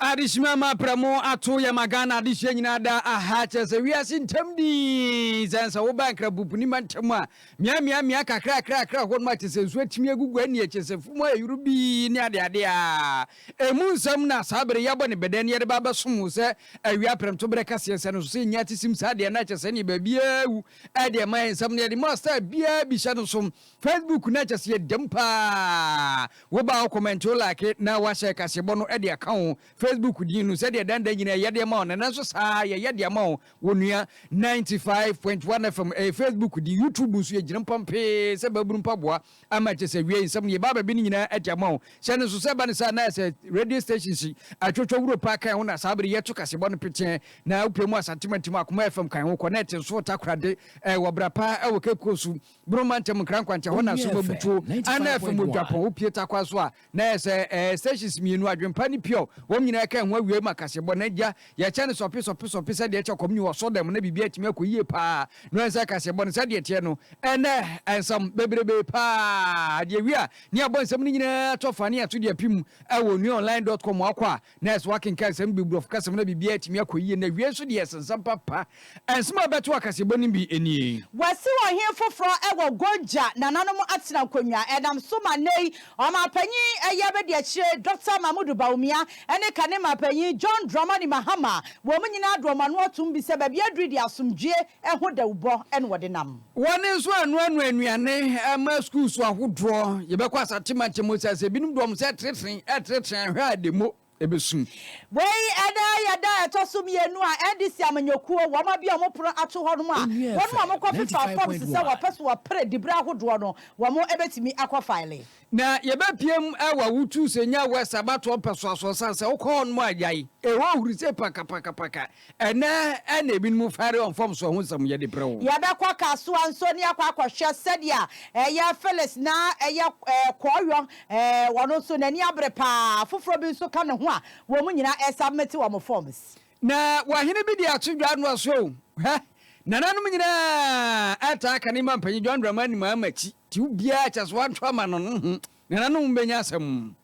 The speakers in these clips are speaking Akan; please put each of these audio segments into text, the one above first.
Adesima ma prɛmo ato yɛ ma Ghana adesua nyinaa da aha kyerɛ sɛ wiase ntam dii sɛn sɛ woba nkrabupunima ntam a miamiamia kakrakrakra hɔ nom a kyerɛ sɛ nsu atumi agugu anie kyerɛ sɛ fum ayɛ yoro bii ne adeade a ɛmu nsɛm na saa bere yi abɔ ne bɛdɛn ne yɛde ba abɛsom wo sɛ awia prɛmto berɛ kaseɛ sɛ no so sɛ ɛnya atisim saa deɛ na kyerɛ sɛ neɛ baabiaa awu ɛdeɛ ma yɛ nsɛm no yɛde mu a star biaa bi hyɛ no so Facebook na kyɛse ɛdam paa woba a wo comment wo like na wahyɛ kaseɛbɔ no de aka wo Facebook din no sɛdeɛ dan dan nyinaa yɛde ma wo no nanso saa yɛyɛ de ama wo wo nua 95.1 FM ɛyɛ Facebook di YouTube nso yɛgyina mpam pee sɛ babunu mpaboa ama kyɛ sɛ wiei nsɛm no yɛba baabi no nyinaa ɛde ama wo hyɛ no nso sɛ ba ne saa na ɛsɛ radio station si atwotwa wuro paa kan ho na saa bere yɛto kaseɛbɔ no peteɛ na wopɛ mu asantemantim akoma FM kan ho kɔ na ɛte nso takorade ɛwɔ bra paa ɛwɔ kekuo so Boro mantam Nkrankwankyɛ hɔ na som abutuo a na ɛfam wɔ Dwapɔn opue takwa so a na ɛyɛ sɛ ɛɛ stations mmienu Adwempa ne Pure wɔn nyinaa ɛka ɛho awiei ma kaseɛbɔ na gya yɛkyɛ no sɔpe sɔpe sɔpe sɛdeɛ ɛkyɛ kɔm nyi wɔ sodɛm mu na biribi atumi akɔ yie paa no ɛnsɛ kaseɛbɔ no sɛdeɛ ɛteɛ no ɛnɛ ɛnsam bebrebe paa adeɛ wie a ne abɔ nsɛm no nyinaa atɔ fa ne yɛn nso de apim ɛwɔ nuaonline dot com wakɔ a Nurse, Woakenkan nsɛm no bi, Borɔfokasa mu na biribiara atumi akɔ yie. Na awiei nso deɛ yɛse nsɛm papa. Nsɛm a ɛbɛto akaseɛbɔ no bi nie. Wɔasi ɔhene foforɔ wɔ Gonja, nananom atena nkonnwa. Ɛnam so ma nnɛyi ɔmanpanyin ɛyɛ abadiakyire Dɔkta Mamoudou Bawumia ne kane manpanyin John Dramani Mahama. Wɔn nyinaa de wɔn ano atom bi sɛ baabi aduru deɛ asomdwoeɛ Ɛho dawubɔ na wɔde nam. Wɔn nso anoanoa nnuane ama sukuu so ahodoɔ. Yɛbɛkɔ asatemate mu sɛ sɛ ebinom dɔm sɛ tretren, ɛretretren a, hwɛ a ɛde mo bɛsum. Wei ɛnɛ yɛ da a ɛtɔ so mmienu a NDC amanyɔkuo wɔn abue wɔn pono ato hɔ nom a wɔnom a wɔkɔ fefaa forms sɛ wɔpɛ so wɔpere diberɛ ahodoɔ no wɔn bɛtumi akɔ file. Na yɛbɛpia mu awa wo tu sɛ nya West abatoɔ mpɛsoasoɔ sane sɛ wokɔ hɔ nom a yae ɛhɔ huri sɛ pakapakapaka ɛnɛ ɛna ebinom fare ɔmfomsoɔ ho nsɛm yɛde brɛ wo. Yɛbɛkɔ Kasoa nso ne akɔ akɔhwɛ sɛdeɛ ɛyɛ Phyllis na ɛyɛ ɛɛ Kɔɔyɔ ɛɛ wɔn nso n'ani abere paa afoforɔ bi nso ka ne ho a wɔn nyinaa ɛsubmit wɔn forms. Na wahene bi de ato dwa noa so o hɛ nananom nyinaa ɛtaa ka ne mma mpanyin John Dramani maa makyi. Nti obiara kyɛ sɛ ɔnto ama no no ho na nanom bɛnya asɛm.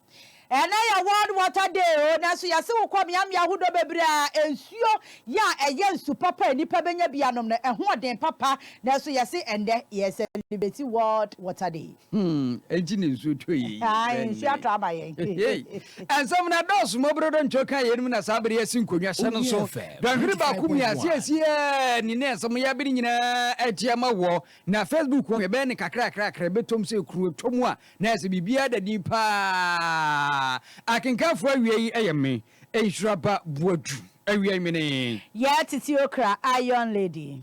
Ɛnɛ yɛ World Water Day o, nanso yɛse wo kɔ mmeammea ahodoɔ bebree a nsuo yɛ a ɛyɛ nsu papa a nnipa bɛnya bi anom no ɛho ɔden papa, nanso yɛse ɛnnɛ yɛ celebrate World Water Day. Hmm, ɛnti na nsuo tɔ yɛ yi Ae, bɛn nsuo atɔ ama yɛn. He hei, nsɛm no adɔɔso, Mobro Doncho kaa yeinom na saa bere yi asi nkonnwa hyɛ no so. Dɔnhwere baako mmiase a ɛsi a nni na ɛsɛ mo yɛ bere nyinaa atia ma wɔ Na Facebook wɔ yɛbɛyɛ no kakrakrakra, ɛbɛtɔ mu sɛ kuro, ɛtɔ mu a, na ayɛ sɛ biribiara da din pa ara. Akenkanfoɔ awia yi yɛ me, Nhyira Ba Boadu. Awia yi mene. Yaa Titi Okra Iron Lady.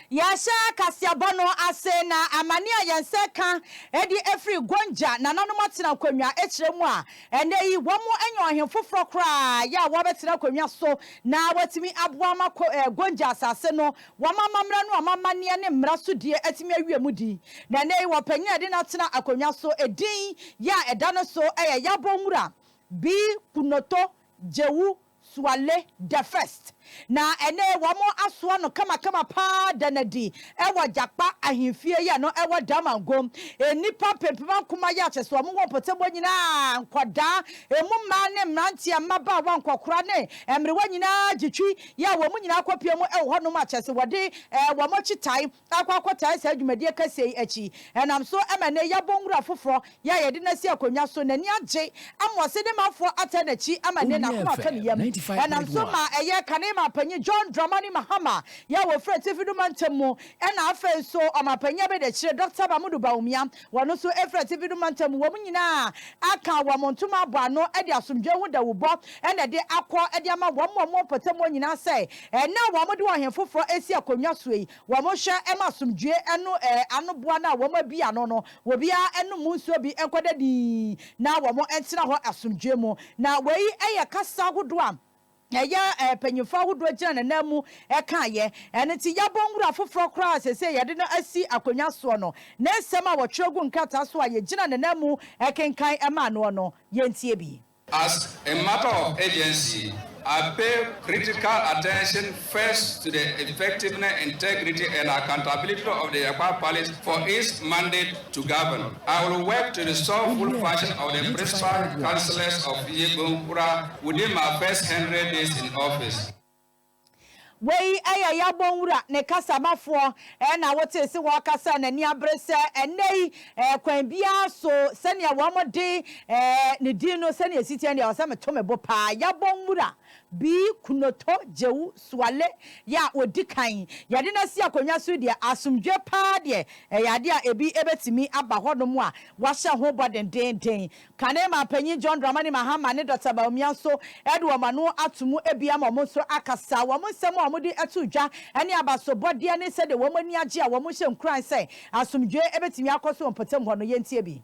Yɛahyɛ kaseɛbɔ no ase na amane a yɛn nsa ka adi afiri Gonja nananom atena akonnwa kyerɛ mu a ɛnnɛ yi wɔanya ɔhene foforɔ koraa yɛ a wɔbɛtena akonnwa so na watumi aboa ma Gonja asase no wɔn amammerɛ no amammaneɛ ne mmara so die atumi awie mu din na ɛnnɛ yi wɔpanyin a ɛde no atena akonnwa so din yɛ a ɛda ne so yɛ Yabonwura Bi Kunoto Jewu Suale the First, na ɛnnɛ wɔn asoa no kamakama paa da no adi wɔ Jakpa Ahemfie yɛ no ɛwɔ Damongo. Nnipa mpempem ankoma yɛ akyɛ sɛ wɔn wɔ mpɔtam hɔ nyinaa, nkwadaa, ɛmu mmaa ne mmeranteɛ, mmabaawa, nkɔkora ne mmerewa nyinaa gye twi yɛ a wɔn nyinaa kɔpia mu wɔ hɔnom akyɛ sɛ wɔde wɔn akyitae akɔ akɔtaa saa dwumadi akɛseɛ yi akyi, ɛnam so ma ɛnnɛ yɛabɔ nwura foforɔ yɛ a yɛde no asi akonnwa so, n'ani agye ama ɔse ne manfoɔ ataa n'akyi ama nnɛ n'akoma atɔ ne yam, ɛnam so ma ɛyɛ kane ma Panyin John Dramani Mahama yɛ a wɔfiri Atifido Mantam mu ɛna afei nso Ɔmanpanyin Abɛdiakyire Dɔkta Mamodu Bawumia Wɔn nso firi atifi no mantam mu, wɔn nyinaa aka wɔn ntoma abɔ ano de asomdwoeɛ ho dawubɔ na ɛde akɔ de ama wɔn a wɔwɔ mpɔtamuo nyinaa sɛ, ɛnnɛ a wɔde ɔhene foforɔ asi akonnwa soɔ yi, wɔnhwɛ mma asomdwoeɛ no anoboa no a wɔabue ano no, obiara nnom mu nsuo bi nkɔda dinn na wɔntena hɔ asomdwoeɛ mu. Na wei yɛ kasa ahodoɔ a Na yɛ mpanyimfo ahodoɔ gyina n'anan mu kaeɛ. Ɛno nti yɛabɔ nwura foforɔ koraa a seesei yɛde no asi akonnwa soɔ no. Ne nsɛm a wɔtwerɛ guu nkrataa so a yɛgyina n'anan mu kenkan maa noɔ no, yɛntie bi. As a matter of urgency, I pay critical attention first to the effectiveness, integrity and accountability of the Yɛkɔ Apalist for its mandate, to govern. I will work to restore full function of the principal councillors of Yebon Kura within my first hundred days in office. Wei yɛ Yabon Wura ne kasamafoɔ na wotee se wɔɔkasa a n'ani abere sɛ ɛnnɛ yi kwan biara so sɛdeɛ wɔde ne din no sɛdeɛ ɛsi teɛ deɛ ɛwɔ sɛ meto me bo paa. Yabon Wura B. Kunoto Jewu Suale yɛ a ɔdi kan yɛde no asi akonnwa so deɛ, asomdwoeɛ pa ara deɛ, ɛyɛ adeɛ a ebi bɛtumi aba hɔnom a wɔahyɛ ho bɔ dendeenden. Kane manpanyin John Dramani Mahama ne Dɔkta Bawumia nso de wɔn ano ato mu bia ma wɔn nso akasa. Wɔn nsɛm a wɔde to dwa ne abasobɔdeɛ ne sɛdeɛ wɔn ani agye a wɔhyɛ nkuran sɛ asomdwoeɛ bɛtumi akɔ so wɔ mpɔtam hɔ no, yɛntie bi.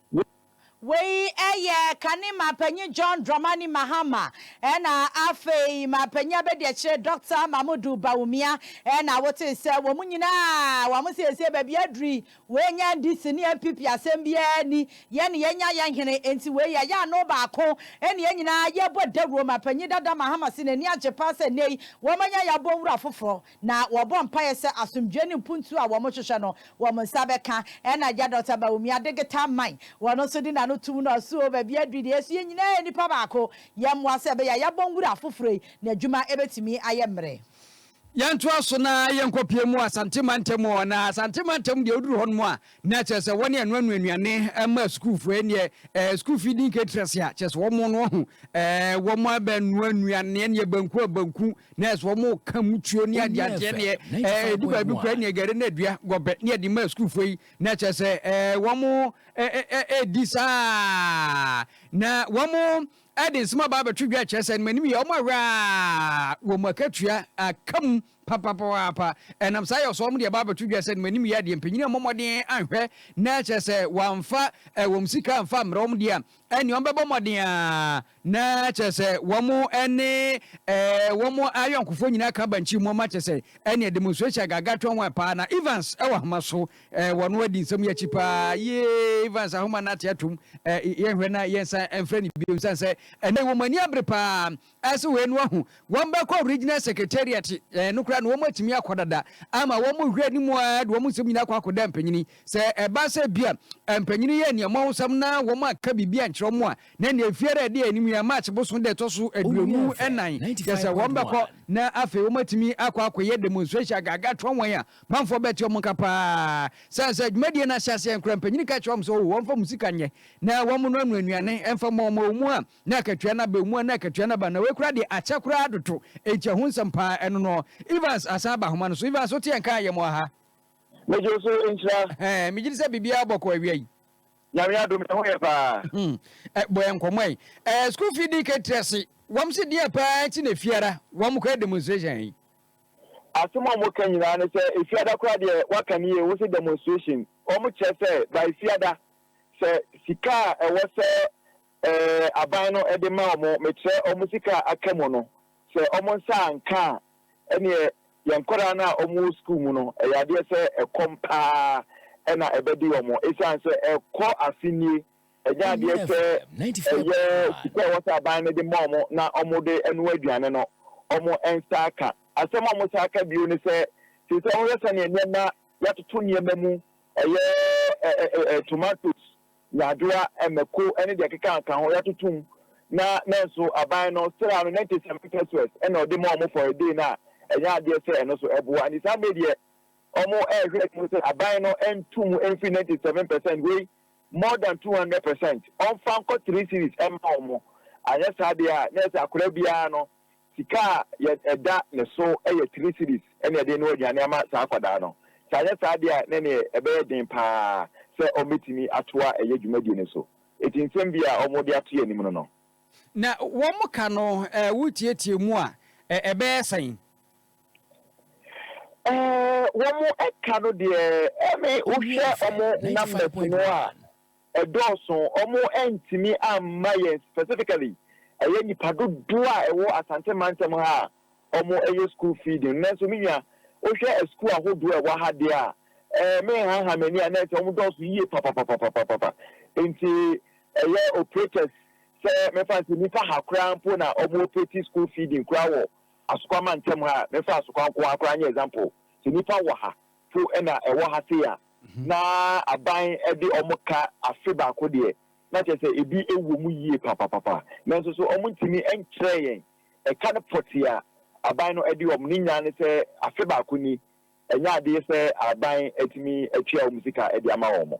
Wei yɛ kane ma panyin John Dramani Mahama ɛna afei ma panyin abadiakyire Doctor Mamodu Bawumia ɛna wotee sɛ wɔn nyinaa wɔn siesie baabi aduru yi wei nyɛ NDC ne NPP asɛm biara ni yɛn ne yɛnya yɛn hene enti wei yɛyɛ ano baako ɛne yɛn nyinaa yɛbɔ dawuro ma panyin dada Mahama si n'ani agye paa sɛ nnɛ yi wɔn anya yɛabɔ nwura foforɔ na wɔbɔ mpaeɛ sɛ asomdwoeɛ ne mpuntuo a wɔhwehwɛ no, wɔn nsa bɛka. Ɛnna agya Dɔkta Bawumia de getaa mae. Ɔno nso de n'ano toom na ɔse, Oo, baabi aduru yi deɛ, ɛso yɛn nyinaa yɛ nnipa baako. Yɛmmoa sɛ ɛbɛyɛ a yɛabɔ nwura foforɔ yi, na adwuma bɛtumi ayɛ mmerɛ. Yɛntoa so na yɛnkɔpue mu Asante mantam o, anaa Asante mantam deɛ woduru hɔnom a, Na kyerɛ sɛ wɔne ɛno anu anuane ma sukuufoɔ ɛneɛ ɛɛ sukuu fii di nka tira sia kyerɛ sɛ wɔn no wɔho ɛɛ wɔn abɛ noa anuane ɛneɛ banku a banku na ɛsɛ wɔn ka mutuo ne adeɛ adeɛ ɛneɛ ɛɛ ɛdi baabi kura ɛneɛ gɛre na adua gɔbɛ ne ɛde ma sukuufoɔ yi na kyerɛ sɛ ɛɛ wɔn ɛɛ ɛɛ ɛdi saa na wɔn ɛde nsɛm aba abɛto dwa kyerɛ sɛ ɛnum anim yɛ wɔn awɛ a wɔn akatua akamu. Papapapaapa! Ɛnam saa yɛ so a wɔde aba abɛto dwa sɛ animuanim yɛ adeɛ. Mpanyin ammɔ mmɔden anhwɛ na kyerɛ sɛ wɔamfa wɔn sika amfa ammrɛ wɔn deɛ a, ɛnneɛ wɔbɛbɔ mmɔden ara na kyerɛ sɛ wɔne wɔn ayɔnkofoɔ nyinaa aka bankye mu ama kyerɛ sɛ ɛnneɛ demonstration agaagaa to wɔn paa. Na Evans wɔ ahoma so wɔ no adi nsɛm yi akyi paa yie. Evans ahoma no ate atom. Yɛnhwɛ na yɛnsan mfrɛ no bio, ɛsiane sɛ ɛnnɛ yi wɔn ani abere paa. Ɛse wei no ahu wɔn bɛkɔ regional secretariat ɛɛ no koraa na wɔn atumi akɔ dada ama wɔn hwɛ anim ara de wɔn nsɛm nyinaa kɔ akɔda mpanyini sɛ ɛba sɛ bia mpanyini yɛ nea wɔn nsɛm na wɔn aka biribi ankyerɛ wɔn a na nea efiara ɛde anim yɛ march boson da ɛtɔ so aduonu ɛnan kyɛ sɛ wɔn bɛkɔ na afei wɔn atumi akɔ akɔyɛ demonstration agaga toa wɔn a manfoɔ bɛte wɔn nka paa sɛn sɛ dwumadie no ahyɛ aseɛ nkora mpanyini ka kyerɛ wɔn sɛ wɔn fa mu sika nyɛ na wɔn no ano anuane ɛmfa mɔ wɔn mu a Na akatua no aba mu a, na akatua no aba. Na wei koraa deɛ, akyɛ koraa dodo. Enti ɛho nsɛm pa ara, ɛno noɔ. Evans asan aba ahoma no so. Evans, wote yɛn nka a, yɛmɔ aha. Megye wo so, nhyira. Ɛhɛɛ, megye di sɛ biribiara bɔkɔɔ awia yi. Nyame adom, yɛn ho yɛ pa ara. Hum. Ɛ, bɔ yɛn nkɔmmɔ ɛ. Ɛɛ, sukuu fii dii kan tiri ase. Wɔn se deɛn pa ara nti na Efiada wɔn kɔyɛ demonstration yi? Asem a wɔka nyinaa ne sɛ Efiada koraa deɛ, woaka no yie, wose demonstration. Wɔkyerɛ sɛ, by Efiada, sɛ sika a ɛwɔ sɛ aban no de ma wɔn, mekyerɛ wɔn sika a aka mu no, sɛ wɔn nsa anka a, ɛnneɛ yɛn nkwadaa no a wɔwɔ sukuu mu no, ɛyɛ adeɛ sɛ ɛkɔm pa ara na ɛbɛde wɔn, ɛsiane sɛ ɛkɔ afe nie, ɛnyɛ adeɛ sɛ ɛyɛ sika a ɛwɔ sɛ aban no de ma wɔn na wɔde noa aduane no, wɔn nsa aka. Asɛm a wɔsan ka bio ne sɛ, seesei wohwɛ sɛdeɛ nneɛma, yɛatoto nneɛma mu, ɛyɛ tomatoes, nyadwowa, mmako ne deɛ ɛkeka ka ho yɛatoto mu na nanso aban no sra no 97 pesewas na ɔde ma wɔn for a day no a ɛnyɛ adeɛ sɛ ɛno nso ɛboa nti saa mmerɛ deɛ wɔrehwɛ anim sɛ aban no nto mu mfiri 97 percent wei more than 200 percent ɔmfa nkɔ 3 series mma wɔn anyɛ saa deɛ a na ɛsɛ akwadaa biara no Sika a yɛ ɛda ne so yɛ three cedis na yɛde renoa aduane ama saa akwadaa no. Sɛ anyɛ saa deɛ a, na ɛneɛ ɛbɛyɛ den pa ara sɛ wɔbɛtumi atoa ɛyɛ dwumadie no so. Enti nsɛm bi a wɔde ato yɛn anim no no. Na wɔka no ɛɛ wotiatia mu a, ɛɛ ɛbɛyɛ sɛn? Ɛɛ wɔka no deɛ ɛɛ me wohwɛ wɔn numbers no a, ɛdɔɔso, wɔantumi amma yɛn specifically, ɛyɛ nnipa dodoɔ a ɛwɔ Asante mantam ha a wɔyɛ school feeding no, nanso me nua, wohwɛ asukuu ahodoɔ a ɛwɔ ha deɛ a, ɛɛ, menhaha m'ani a, na ɛyɛ sɛ wɔdɔɔso yie papapapapapa, nti ɛyɛ operators sɛ mɛfa no sɛ nnipa ha koraa mpo na wɔn operate school feeding koraa wɔ Asokwa mantam ha, mɛfa Asokwa nko ara koraa nyɛ example, sɛ nnipa wɔ ha. fo na ɛwɔ ha sei a, na aban de wɔn ka afe baako deɛ, na kyerɛ sɛ ebi wɔ mu yie papapapa. Nanso so wɔntumi nkyerɛɛ yɛn ɛka no pɔtee a aban no de wɔn? Ne nyinaa ne sɛ afe baako ni, ɛnyɛ adeɛ sɛ aban atumi atua wɔn sika de ama wɔn.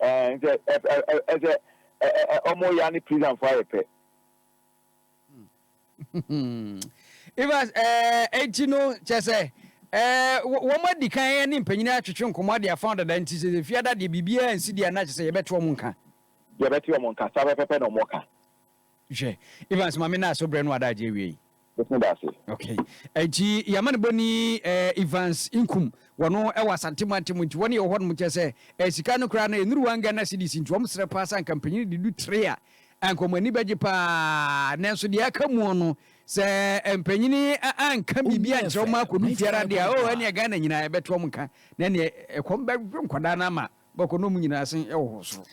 Ɛɛ nsɛ ɛ ɛ ɛ ɛsɛ ɛ ɛ ɛ ɔmo ya ne prison fo ayɛ pɛ. Evans ɛɛ eti no kyɛ sɛ ɛɛ wɔn adi kan ɛne mpanyin atwetwe nkɔmɔ adi afa dada nti sɛ efi ada deɛ biribiara nsi deɛ ana kyɛ sɛ yɛbɛte wɔn nka. Yɛbɛte wɔn nka saa pɛpɛpɛ na wɔn ka. Hwɛ, Evans ma me naaso brɛ no adagye awie yi. Mɛtumi da ase. Okay. Nti yɛama no bɔni eh, Evans Nkum, wɔno ɛwɔ Asante mantam nti wɔne yɛwɔ hɔnom kyɛ sɛ eh, sika no koraa no ɛnuru one Ghana cedis nti wɔn srɛ paa sɛ anka mpanyin de du three a anka wɔn ani bɛgye paa nanso deɛ aka muo no sɛ eh, mpanyin eh, anka biribi ankyerɛ wɔn akɔdu fiara deɛ oh ɛneɛ Ghana nyinaa ɛbɛto wɔn nka na ɛneɛ ɛkɔm bɛdwo nkwadaa no ama Bɔkɔ na ɔmo nyinaa asen wɔ hɔ soro.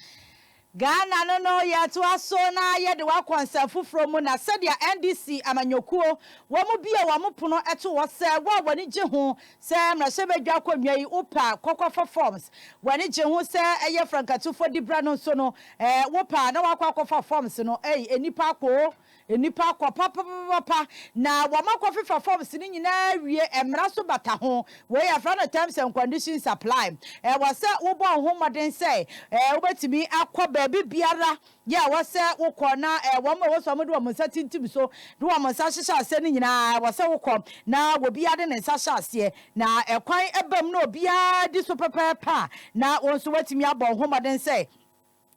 Ghana no no yɛtoa so na yɛde wo akɔ nsɛm foforɔ mu na sɛdeɛ NDC amanyɔkuo wɔn bue wɔn pono to hɔ sɛ wo a w'ani gye ho sɛ mmarahyɛbadwa akonnwa yi wo pɛ a kɔ kɔ fa forms w'ani gye ho sɛ ɛyɛ frankatufo dibrɛ no nso no eh wo pɛ a na wakɔ akɔ fa forms no ei nnipa akɔ Nnipa kɔ papapapapa na wɔakɔfefa forms no nyinaa awie, mmara nso bata ho. Wei yɛfrɛ no terms and conditions apply. Ɛwɔ sɛ wobɔ wo ho mmɔden sɛ wobɛtumi akɔ baabi biara yɛ ɛwɔ sɛ wokɔ na wɔn a ɛwɔ sɛ wɔde wɔn nsa tintim so de wɔn nsa hyehyɛ aseɛ no nyinaa ɛwɔ sɛ wokɔ na obiara de ne nsa hyɛ aseɛ na ɛkwan bam na obiara di so pɛpɛɛpɛ a na wo nso woatumi abɔ wo ho mmɔden sɛ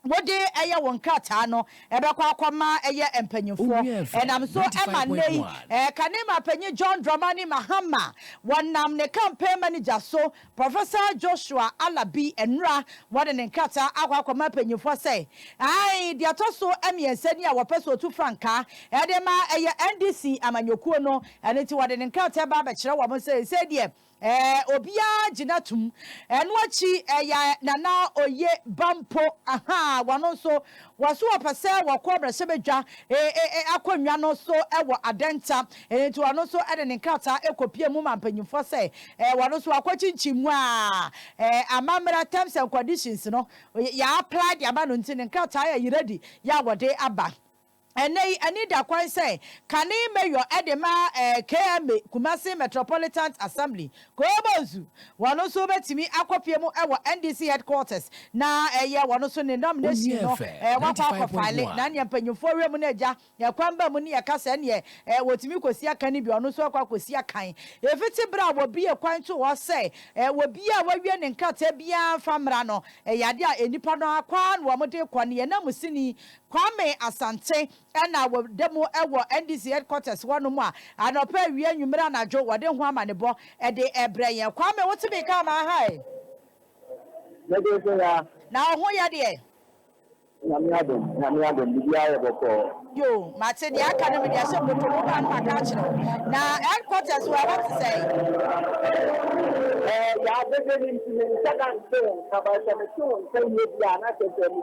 wode yɛ wo nkrataa no bɛkɔ akɔma yɛ mpanyimfoɔ. Ɛnam so ma nnɛ yi Kanema panyin John Dramani Mahama, wɔnam ne campaign manager so, Professor Joshua Alabi, nnora wɔde ne nkrataa akɔ akɔma mpanyimfoɔ sɛ, ae, deɛ ɛtɔ so mmiɛnsa ni a wɔpɛ sɛ wɔtu frankaa de ma yɛ NDC amanyɔkuo no, ɛno nti wɔde ne nkrataa ba abɛkyerɛ wɔn sɛ seisei deɛ Ɛɛ obiaa gyina tum. Ɛno akyi ɛyɛ Nana Oye ba mpo ahaa wɔno nso wɔso wɔpɛ sɛ wɔkɔ mmrahyɛbadwa ee akonnwa no so wɔ Adenta ɛno nti ɔno nso de ne nkrataa ɛkɔpie mu ma mpanyinfoɔ sɛ ɛɛ wɔno nso wakɔ kyinkyin mu a ɛɛ amammra terms and conditions no yɛ apply de ama no nti ne nkrataa yɛ ready yɛ a wɔde aba. Ɛnnɛ yi, ani da kwan sɛ kane mayor de ma KMA, Kumasi Metropolitant Assembly, Koobo Nsu. Wɔn nso bɛtumi akɔpue mu wɔ NDC headquarters na ɛyɛ wɔn nso ne nomination no wɔakɔ akɔ file na neɛ mpanyinfoɔ wura mu no agya kwan ba mu ne ɛka sɛ neɛ wɔtumi kɔsi akan no bi ɔno nso akɔ akɔsi akan. Ɛfiti berɛ a wɔbue kwan too hɔ sɛ obiara a wawie ne nkrataa biara mfa mmra no, ɛyɛ adeɛ a nnipa no ara kwan na wɔde rekɔ ne yɛn nanmusini Kwame Asante na wɔda mu wɔ NDC headquarters hɔnom a anɔpa, awia, anwummere, anadwo wɔde ho amanebɔ de rebrɛ yɛn. Kwame, wote me nka anaa ha ɛ? Me de nso ha. Na wo ho yɛ deɛ? Nyame adom, Nyame adom, biribiara yɛ bɔkɔɔ. Yoo, mate, deɛ aka no mede ahyɛ bɔtɔ mu, baa no maka akyerɛ wo. Na headquarters wɔ ɛhɔ te sɛn? Ɛɛ, yɛadede no nti, menhyɛ da nte wo nka, but sɛ mete wo nka yie bi a na kyerɛ sɛ me.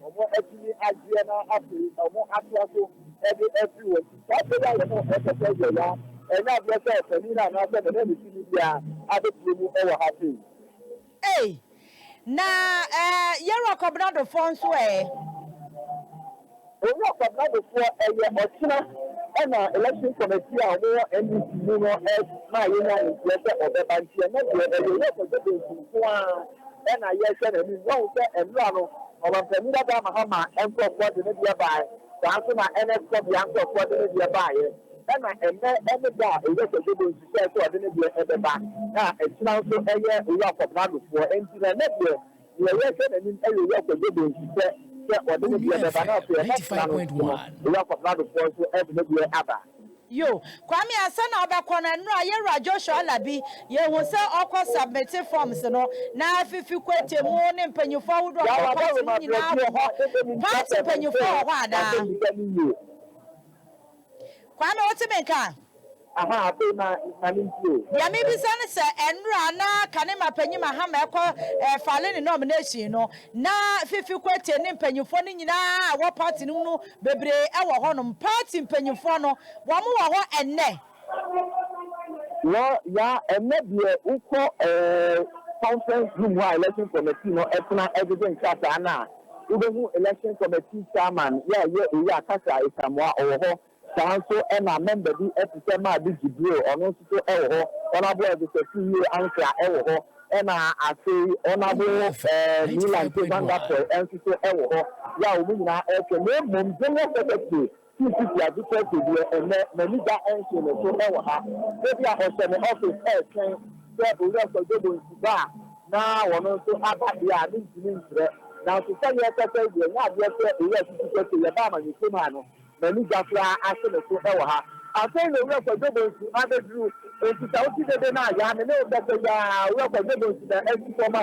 wɔatumi agyeɛ na afei wɔatoa so de afiri wɔn ti. Saa berɛ yi a wɔpɛ sɛ yɛyɛ a, ɛnyɛ adeɛ sɛ panin no anaasɛ me ne me tumi biara abɛteɛ mu wɔ ha sei. Ei! Na eh, Yɛwura Kwabnadofoɔ nso eh? Owura Kwabnadofoɔ, ɛyɛ ɔkyena na Election Committee a wɔwɔ NDC mu no maa yɛnyaa no nteɛ sɛ ɔbɛba, nti ɛnnɛ deɛ ɛyɛ Owura Kwadwo Bentsi nko ara. na yɛrehwɛ n'anim. Woahu sɛ mmra no, Ɔmanpanyin Dadaa Mahama nkurɔfoɔ de ne deɛ baaɛ, saa nso na NS Kɔbea nkurɔfoɔ de ne deɛ baaɛ, ɛna ɛnnɛ ne da a Owura Kwadwo Bonsu hyɛɛ sɛ ɔde ne deɛ bɛba, na nkyena nso ɛyɛ Owura Kɔbradofoɔ, enti na ɛnnɛ deɛ deɛ yɛrehwɛ n'anim yɛ Owura Kwadwo Bonsu sɛ sɛ ɔde ne deɛ bɛba, na afei ɛnnɛ kyena no nso no Owura Kɔbradofoɔ nso de ne deɛ aba. Yo, Kwame ansa na ɔbɛkɔ no ɛnora yɛwura Joshua Alabi yɛhu sɛ ɔkɔ submit forms no na afifi kwete mu ne mpanyinfoɔ ahodoɔ a ɔwɔ party mu nyinaa wɔ hɔ party mpanyinfoɔ wɔ hɔ anaa Kwame wote me nka? Aha afei ma ma ne nti o. Deɛ mebisa ne sɛ ɛnora na kane mapanyin mahama ɛkɔ eh, fale ne nomination no na fifi kwete ne mpanyinfoɔ no nyinaa wɔ party no mu no Bebree wɔ hɔnom. Party mpanyimfoɔ no, wɔn wɔ hɔ ɛnnɛ? Wɔ, ya, ɛnnɛ deɛ wokɔ ɛɛ conference room hɔ a election committee no ɛtena ɛdede nkrataa no a, wobɛhu election committee chairman ya yɛ Owura Cassar Asamoah ɔwɔ hɔ, saa nso ɛna member bi ɛte sɛ Maa Digi Brew ɔno nso so ɛwɔ hɔ, Honourable Edwosɛ Tuwie Ankrah ɛwɔ hɔ, Ɛna afei Ɔnabo ɛɛ Milan K. Van der Poel nso so wɔ hɔ yɛ a wɔn nyinaa ɛɛtwɛ na mmom General Secretary Chief Kwesi Adu Quertey deɛ ɛnnɛ n'ani da ɛnhye ne so ɛwɔ ha ebi a ɔhyɛ ne office ɛɛtwɛn sɛ Owura Kwadwo Bonsu ba a na wɔn nso aba deɛ a mentumi nkyerɛ nanso sɛdeɛ ɛkɔ sɛ deɛ ɛnyɛ adeɛ sɛ Owura Sisi Quertey yɛba amanyɔkuo mu a no M'ani gya koraa ahye me so wɔ ha. Afei na Owura Kwadwo Bonsu abɛduru. Enti sɛ wote dede no a, yɛ a me ne wo bɛkɔ yi ara. Owura Kwadwo Bonsu na asi fam a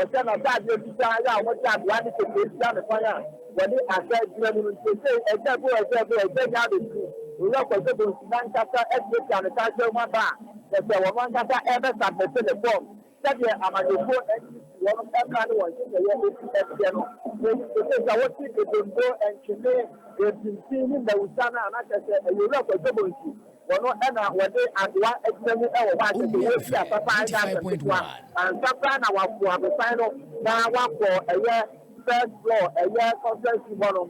ɔhyɛ n'ataadeɛ fitaa yɛ a wɔde adoa ne kete ahyia me kwan a wɔde ahwɛ gyina mu no. Seesei Agya Bo, Agya Bo, Agya Nyaa abɛduru. Owura Kwadwo Bonsu n'ankasa atuatua ne takyerɛ mu aba a kyerɛ sɛ ɔno ankasa rebɛsubmite ne fɔm. Sɛdeɛ amanyɔkuo NCC wɔnom mmra ne wɔn nhyehyɛeɛ si teɛ no, enti seesei sɛ wote Ebonto, Nkyene, Mpimfin ne Mmawusa no a, na kyerɛ sɛ ɛyɛ Owura Kwadwo Bonsu wɔno na wɔde adoa agyina mu wɔ hɔ a kyerɛ sɛ wɔredi asasa ɛnyɛ asɛm ketewa. Ansa koraa na wɔapo abosan no na wɔakɔ ɛyɛ first floor ɛyɛ conference room hɔnom.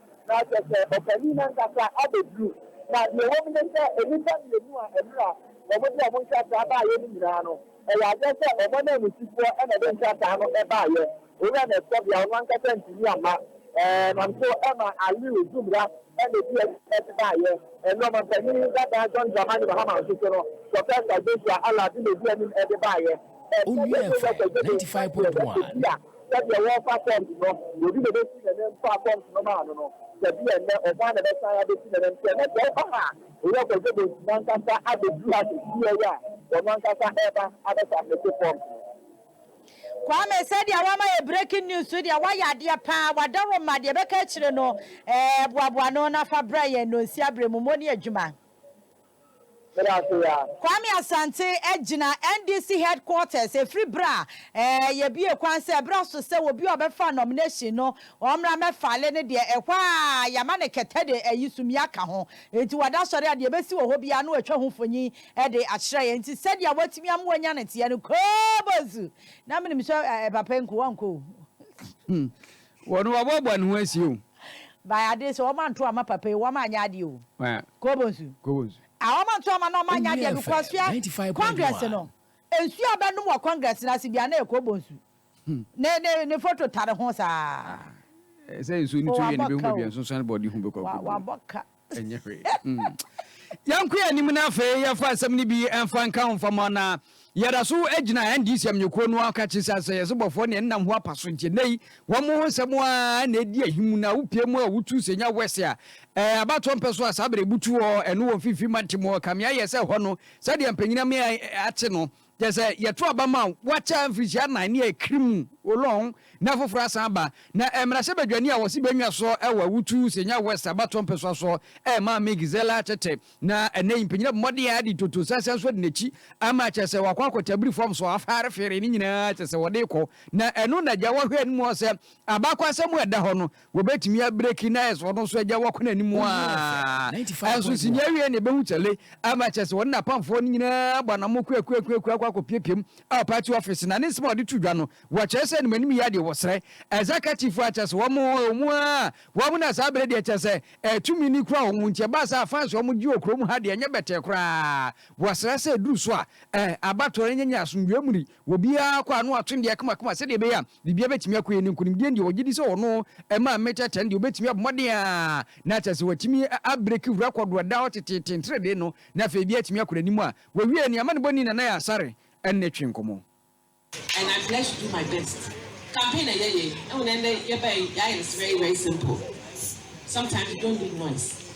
Na kyerɛ sɛ ɔpanin no ankasa abɛduru. Na deɛ ɛwɔ mu ne sɛ, nnipa mmienu a mmerɛ a wɔde wɔn nkrataa baeɛ no nyinaa no, ɛyɛ adeɛ sɛ wɔn ananmusifoɔ na ɛde nkrataa no baeɛ. Owura Nestɔvia ɔno ankasa antumi amma. Ɛnam so ma Aliu Zumra na ɛdii anim na ɛde baeɛ. Ɛno ɔmampanin dada John Dramani Mahama nso so no, Professor Joshua Allard na ɛdii anim de baeɛ. Onua ɛmfa ɛ, ninety five point one. Sɛdeɛ wɔrefa forms no, obi na obɛsi n'anim faa forms no maa no no, sɛ bi yɛ nnɛ, ɔno ara na ɛbɛsan abɛsi n'anim. Sɛ nnɛ sɛ woba ha a, Owura Kwadwo Bonsu no ankasa abɛduru ha sɛ fie yi a, ɔno ankasa ɛreba abɛsubmite forms no. Kwame, sɛdeɛ woama yɛ breaking news so deɛ, woayɛ adeɛ pa ara, wɔada wo mma, deɛ ɛbɛka akyire no, ɛɛ, boaboa ano na fa brɛ yɛn, Nonsia Berɛmumo ne Adwuma. Meda ase yaa. Kwame Asante agyina NDC headquarters ɛfiri berɛ a ɛɛ yɛbue kwan sɛ ɛberɛ aso sɛ obi a ɔbɛfa nomination no ɔmmra mmɛfale ne deɛ ɛhɔ a yɛama no kɛtɛ de ayi sumii aka ho nti wada asɔre a deɛ ɛbɛsi wɔ hɔ biara no watwa ho mfonin de akyerɛ yɛn nti sɛdeɛ watumi ama wanya no teɛ no koobozu na menim sɛ ɛɛ papa nko wankɔ o. Wɔn a wɔbɔ bɔne ho asie o. By adeɛ sɛ wɔn anto amma papa yi wɔn anyɛ adeɛ o. Kobo nsu. Kobo nsu. Ah wɔn anto amma na wɔn anyɛ adeɛ because hwɛ congress no nsuo a bɛnom wɔ congress no ase biara na yɛ kobo nsu. Ne ne ne photo tare ho saa. Sɛ nsuo no tu yɛ no bɛhu baabi a nsonsoan bɔ ɔde hu bɛkɔ akodu. Wabɔ ka. Ɛnyɛ hwee. Yɛnko yɛn anim na afei yɛfa asɛm no bi mfa nka ho mfa mɔ na yɛda so gyina NDC amanyɔkuo no aka kye sɛ asɛyɛse bɔfoɔ ne ɛnam ho apa so nti ɛnɛ yi wɔn ho nsɛm a na ɛdi ahi mu na wopie mu a wotu sɛ nya wɛse a ɛɛ abatoɔ mpɛ so a saa berɛ butu hɔ ɛno wɔ mfimfini mante mu hɔ kameayɛ sɛ hɔ no sɛdeɛ mpanyina me ate no Kyerɛ sɛ, yɛto aba ma wɔakyɛ mfirihyia nnan ne akiri mu, Olong, na afoforo asan aba. Na mmarahyɛbadwani a wɔse benya so wɔ Awutu, Senya West, abatoɔ mpɛsoa so rema Ame Gisela tete. Na ɛnnɛ yi, mpanyin abɔ mmɔden ara de ntonto sɛsɛn nso adi n'akyi ama, kyerɛ sɛ, wɔakɔ akɔ Tabiri fam so, Afar Fere, ne nyinaa kyerɛ sɛ wɔde rekɔ. Na ɛno na agya Wɔhwɛ anim hɔ sɛ, abakɔsɛm a ɛda hɔ no, Wɔbɛtumi abreki na ayɛ sɛ ɔno nso agya wakɔ n'anim aa. Ɛnso sini awie na ɛbɛhu sɛ le ama kyerɛ sɛ ɔne n'apamfoɔ no nyinaa abɔ anammo kuakuakuakua akɔ akɔpiapiam wɔ party office na ne nsɛm a ɔde to dwa no wɔkyerɛ sɛ animanim yɛ adeɛ wɔsrɛ executive a kyerɛ sɛ wɔn wɔn aa wɔn na saa berɛ deɛ kyerɛ sɛ ɛɛ tumi ni kura wɔn nti ɛbaa saa fans wɔn gye wɔ kurom ha deɛ ɛnyɛ bɛtɛɛ koraa wɔsrɛ sɛ ɛduru so a ɛɛ abatoɔ no nyɛ nyɛ asomdwoeɛ mu ni. Obiara kɔ a na watwe ne deɛ kamakama sɛdeɛ ɛbɛyɛ a biribiara bɛtumi akɔ yie ne nkonimdie deɛ ɔgye di sɛ ɔno ɛma mmeter ten deɛ ɔbɛtumi abɔ mmɔden a na kyerɛ sɛ watumi abreki rɛkɔdo a ɛda hɔ teteete ntrɛdee no na afei ebi atumi akɔ n'anim a wawie nea amanebɔni Nana Yasare ne twe nkɔmmɔ. And I pledge to do my best. Campaign na yɛyɛ yi, ɛwɔ na ɛndɛ yɛbae yɛayɛ no very very simple. Sometimes you don't need noise.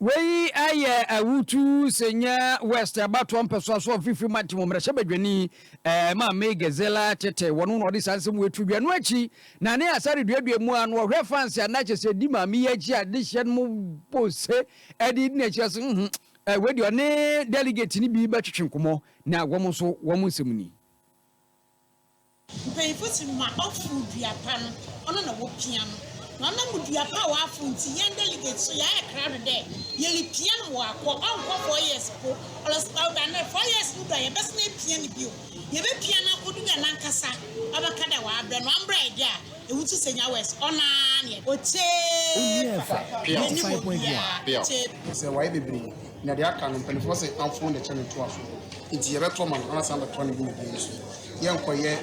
Wei yɛ awutu sɛ nyɛ West abatoɔ mpɛsoa so ɔfifiri mantam mmarahyɛbadwani Maame Gazela Tete wɔn na ɔde saa nsɛm wei to dwa. Ɛno akyi na ne asa reduadua mu a na ɔhwɛ fanse a na kyɛ sɛ di maame yi akyi a de hyɛ no mu bɔ se ɛde di n'akyi ase nhum wei deɛ ɔne delegate no bi bɛtwetwe nkɔmmɔ na wɔn nso wɔn nsɛm ni. Mpanyimfo se ma ɔfow dua pa no, ɔno na wopia no. Na ɔnam dua pa a ɔafow ntsi, hɛn delegates so yɛayɛ krado dɛ yeripia no ma ɔaakɔ. Ɔnnkɔ four years mpo, ɔlɔs ɔw anaa four years no do a, yɛbɛsan epia no bio. Yebepia no akodu dɛ nankasa ɔbɛka dɛ ɔabrɛ no. Ɔambrɛ ɛ de a, ehu so sɛ nyia wɛs, ɔno ara nye. Otsie fa, n'enyim obiara tsie. Ɔsɛ wɔayɛ bebree Na deɛ aka no, mpanimfoɔ se amfoo na ɛkyɛ ne toafoɔ no, enti yɛbɛtɔ ma no na wasan abɛtɔ ne dwumadie no so. Yɛrenkɔyɛ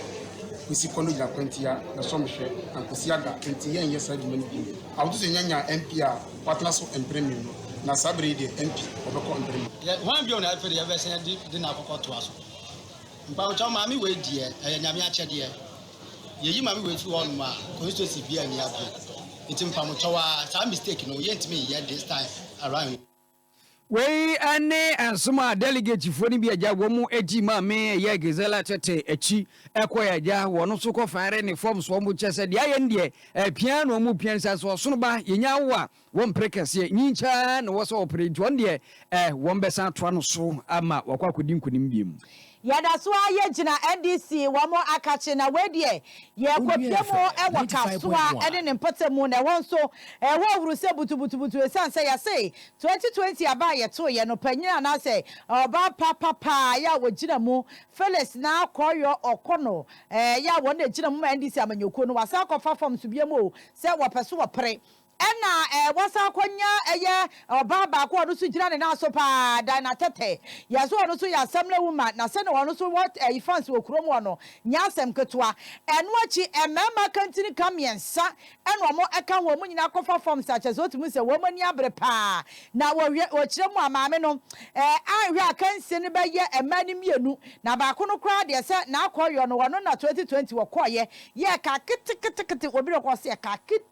Kwesi kɔ no gyina kwantia bɛsɔ me hwɛ na Kwesi aga, enti yɛrenyɛ saa adwuma no bio. Ahotoso yɛnya nyaa MP a watena so mpere mmienu, na saa berɛ yi deɛ MP ɔbɛkɔ mpere mmienu. Yɛ hwan bio na ɛfiri yɛbɛsan de de no akɔkɔ toa so? Mpawokyɛw maame wei deɛ ɛyɛ Nyame akyɛdeɛ. Yɛyi maame wei firi hɔ nom a, constituency biara nni agorɔ. Enti mpawokyɛw ara saa mistake no yɛntumi nyɛ this time around. Wei ne nsom a dɛligetfoɔ no bi agya wɔn akyi maa me ɛyɛ Gisela tete akyi ɛkɔɛ agya wɔn nso kɔ fire ne fam so wɔn kyɛ sɛ deɛ ayɛ no deɛ ɛpia na wɔn pia no sɛ sɛ ɔsono ba yɛnya awo a wɔn pere kɛseɛ nyinkyɛn na wɔsɛ wɔpere nti wɔn deɛ ɛ wɔn bɛsan atoa no so ama wɔakɔ akɔdi nkonim biem. Yɛda so ara yɛgyina NDC wɔn akakye na wei deɛ yɛrekɔpia mu wɔ Kasoa ne ne mpɔtam mu na ɛhɔ nso ɛhɔ ahuru sɛ butubutubutu ɛsiane sɛ yɛse 2020 aba a yɛtoeɛ no panyin anaasɛ ɔbaa pa papaa yɛ a wɔgyina mu Phyllis Narkɔɔyɔ Ɔkono yɛ a wɔn na ɛgyina mu ma NDC amanyɔkuo no wɔasan akɔfa fam so biom o sɛ wɔpɛ so wɔpere Ɛna wasan kɔ nya ɛyɛ ɔbaa baako ɔno nso gyina ne nan so paa Dinah Tete yɛ so ɔno nso yɛ assembly woman na sɛnea ɔno nso wɔ ɛyi fans wɔ kurom hɔ no nyɛ asɛm ketewa ɛno akyi mmarima kantini ka mmiɛnsa ɛna wɔn ɛka ho wɔn nyinaa akɔfa forms a kyerɛ sɛ wotumi hu sɛ wɔn ani abere paa na wɔhwɛ wɔkyerɛ mu a maame no ɛɛ anhwɛ a kansie no bɛyɛ mmaa no mmienu na baako no koraa deɛ sɛ n'akɔyɔ no ɔno na 2020 wɔkɔɔyɛ yɛ ɛka keteketekete obi rekɔ sɛ ɛka keteketekete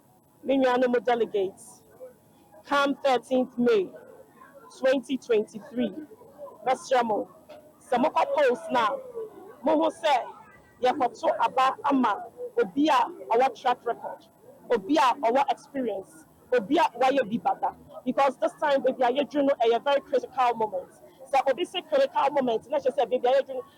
me nuanom delegates, come thirteenth May twenty twenty three, mɛsrɛ mo sɛ mokɔ polls no a mohu sɛ yɛkɔto aba ama obi a ɔwɔ track record, obi a ɔwɔ experience, obi a wayɛ bi ba da because this time baabi a yɛduru no ɛyɛ very critical moment. Sɛ obi se critical moment na kyerɛ sɛ baabi a yɛduru no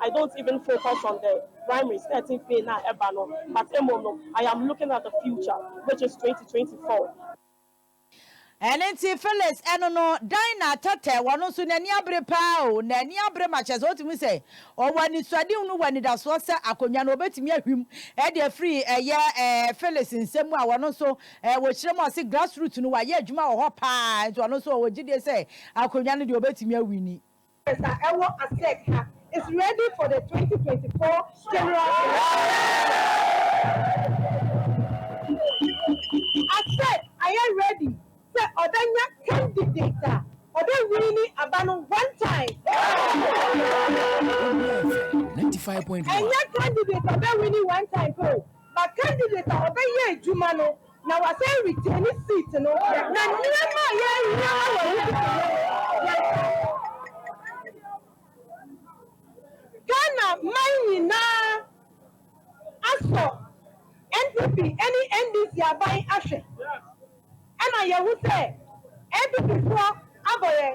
I don't even focus on the primaries thirteen fei no a ɛba no but mmom no I am looking at the future which is twenty twenty four. Ɛno nti Phyllis ɛno no Dinah tɛtɛ ɔno nso n'ani abere paa o, n'ani abere ma kyerɛ sɛ wotumi hu sɛ ɔwɔ anisoadehunu wɔ anidasoɔ sɛ akonnwa no wɔbɛtumi ahwim de afiri ɛyɛ Phyllis nsam mu a ɔno nso wɔkyerɛ mu a ɔse grassroot no wayɛ adwuma wɔ hɔ paa nti ɔno nso ɔwɔ gyidie sɛ akonnwa no deɛ wɔbɛtumi awini. Congress a ɛwɔ Asec ha is ready for the twenty twenty four general election. Asec ayɛ ready sɛ ɔbɛnya candidate a ɔbɛ winni aba no one time. Ɛnyɛ candidate a ɔbɛ winni one time pɛ o, but candidate a ɔbɛyɛ adwuma no. Na wasan retain ne seat no. Na nneɛma a yɛhia wɔ Ɔhene Ghana man nyinaa asɔ NPP ne NDC aban ahwɛ ɛna yɛhu sɛ NPP foɔ abɔ yɛn.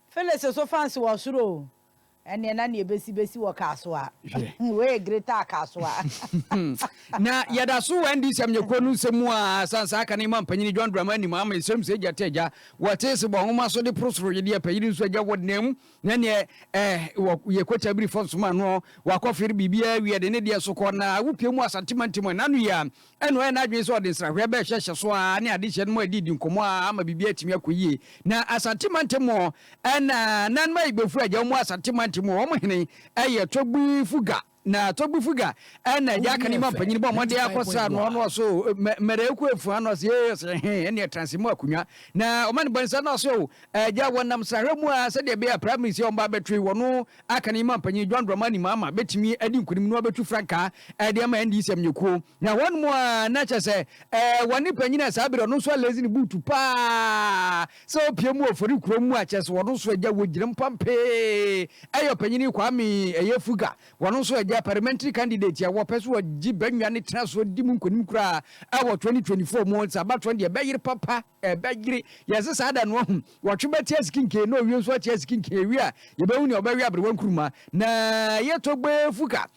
Phyllis nso fancy wɔ soro o. Ɛneɛ na neɛ ɛbɛsi bɛsi wɔ Kasoa. Hwɛ. Wei yɛ greater Kasoa. Na yɛda so wɔ ND sɛm nyɛ kuro no nsɛm mu aa san saa ka ne Imam panyini John Dramani nim ama yɛsrɛ mu sɛ Agya te agya wɔ te se bɔ nwoma so de poro soro yɛ deɛ panyini nso agya wɔ nam na neɛ eh wɔ yɛ kɔ kyabiri fɔ nsoma noɔ wɔ akɔ fere biribiara wie de ne deɛ so kɔ na awo pie mu Asante mantam ɛna no yɛ a Ɛnna ɔyɛɛ n'adwene sɛ ɔde nsrahwɛ bɛhyɛ hyɛso ara ne adehyeɛ no mu adididi nkɔmmɔ ara ama biribiara atumi akɔ yie. Na Asante mantam mu hɔ, ɛnna Nana Mayigbefo agya wɔn Asante mantam mu hɔ, wɔn hene yɛ Togbifuga. Na Togbifuga na agya aka ne mampanyin bɔ mmɔden akɔsra no, ɔno ɔse o, Mmerɛeku Afua no ɔse ee, ɔse ɛhe, ɛnneɛ tra ase mu akonnwa na ɔma no bɔnsa, na ɔse o, agya, wɔnam nsrahwɛ mu ara sɛdeɛ ɛbɛyɛ a Prime Minister a wɔbɛba abɛto yi, wɔn Aka no yi ma Panyin John Dramani Mahama betumi adi nkunim na wabetu frankaa de ama NDC amanyɔkuo. Na hɔnom a na kyerɛ sɛ wɔne panyin a saa bere ɔno nso alezi ne buutu pa ara sɛ ɔpie mu wɔ Fori kurom mu a kyerɛ sɛ wɔn nso agya wɔ gyina mpa mpee yɛ ɔpanyin Kwame Eyefuga wɔn nso agya parliamentary candidate a wɔpɛ sɛ wɔgye bɛnwa ne tena so di mu nkunim koraa wɔ 2024 mu. Nsabatron deɛ bɛyere papa. ɛbɛyere. Yɛse saa da no ahu. Wɔtwe bɛte asikinkee na owie nso ate asikinkee ewie a yɛbɛhu nea ɔbɛwe aberewa nkuruma. Na yɛtɔ gbɛɛ fuka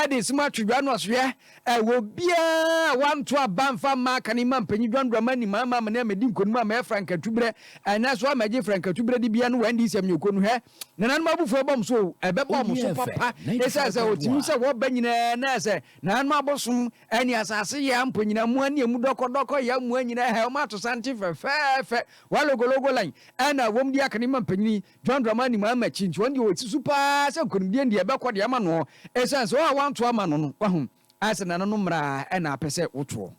de esem atwe dwa no asoeɛ wɔ obiara a wanto aba mfa mma aka ne mma mpanyin dwandɔ ama anim ama amene amedi nkonim ama yɛfra nkatuberɛ. Ɛnɛ nso ama agye fra nkatuberɛ dibea no wɔ NDC amanyɔkuo no hwɛ. Nananom abufuo bɛba wɔn so o, ɛbɛba wɔn so papa, esiane sɛ wɔtumi sɛ wɔba nyinaa na sɛ nananom abosom ne asase yea mpo nyinaa, mmoa ne emu dɔkɔdɔkɔ yea mmoa nyinaa, hɛ, wɔn atosanten fɛfɛɛfɛ, wɔn logologo line, ɛna wɔn di akane ma mpanyin John Dramani Mahama akyi, nti wɔn deɛ wɔsi so paa sɛ nkonimdie deɛ ɛbɛkɔ deɛ ama noɔ, esiane sɛ wɔn a wɔanto ama no no, wahu, ayɛ sɛ nananom mmara na apɛ sɛ wotoɔ.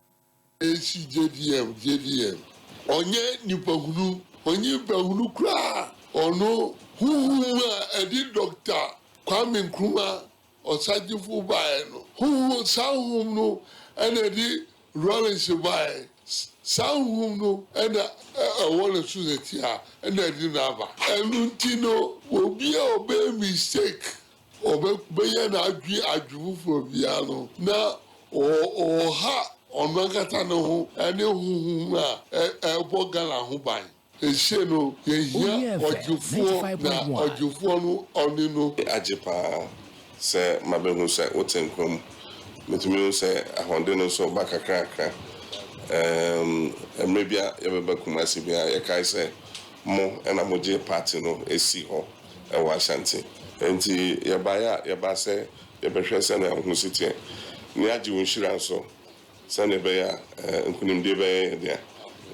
Esi JVM, JVM, ɔnyɛ nipahunu, ɔnye nipahunu koraa, ɔno honhom a ɛde Dɔkta Kwame Nkrumah Osagyefo baeɛ no, honhom, saa honhom no na ɛde Rawlings baeɛ, saa honhom no na ɛwɔ ne so setia, na ɛde no aba. Ɛno nti no, obi a ɔbɛyɛ mistake ɔbɛyɛ n'adwene adwene foforɔ biara no, na ɔha ɔno ankasa ne ho ne honhom a ɛbɔ Ghana ho ban. Seesei no, yɛhia ɔgyefoɔ, na ɔgyefoɔ no, ɔne no. Agye pa ara sɛ mabɛhu sɛ wote nkwa mu. Metumi hu sɛ ahoɔden no nso reba kakrakra. Mmerɛ bi a yɛbɛba Kumasi biara, yɛkae sɛ mo na mogyee party no sii hɔ. wɔ Ashanti. Enti yɛbaeɛ a, yɛbaa sɛ yɛbɛhwɛ sɛdeɛ wo ho si teɛ, na yɛagye wo nhyira nso, sɛdeɛ ɛbɛyɛ a nkunimdie bɛyɛ yɛn dea,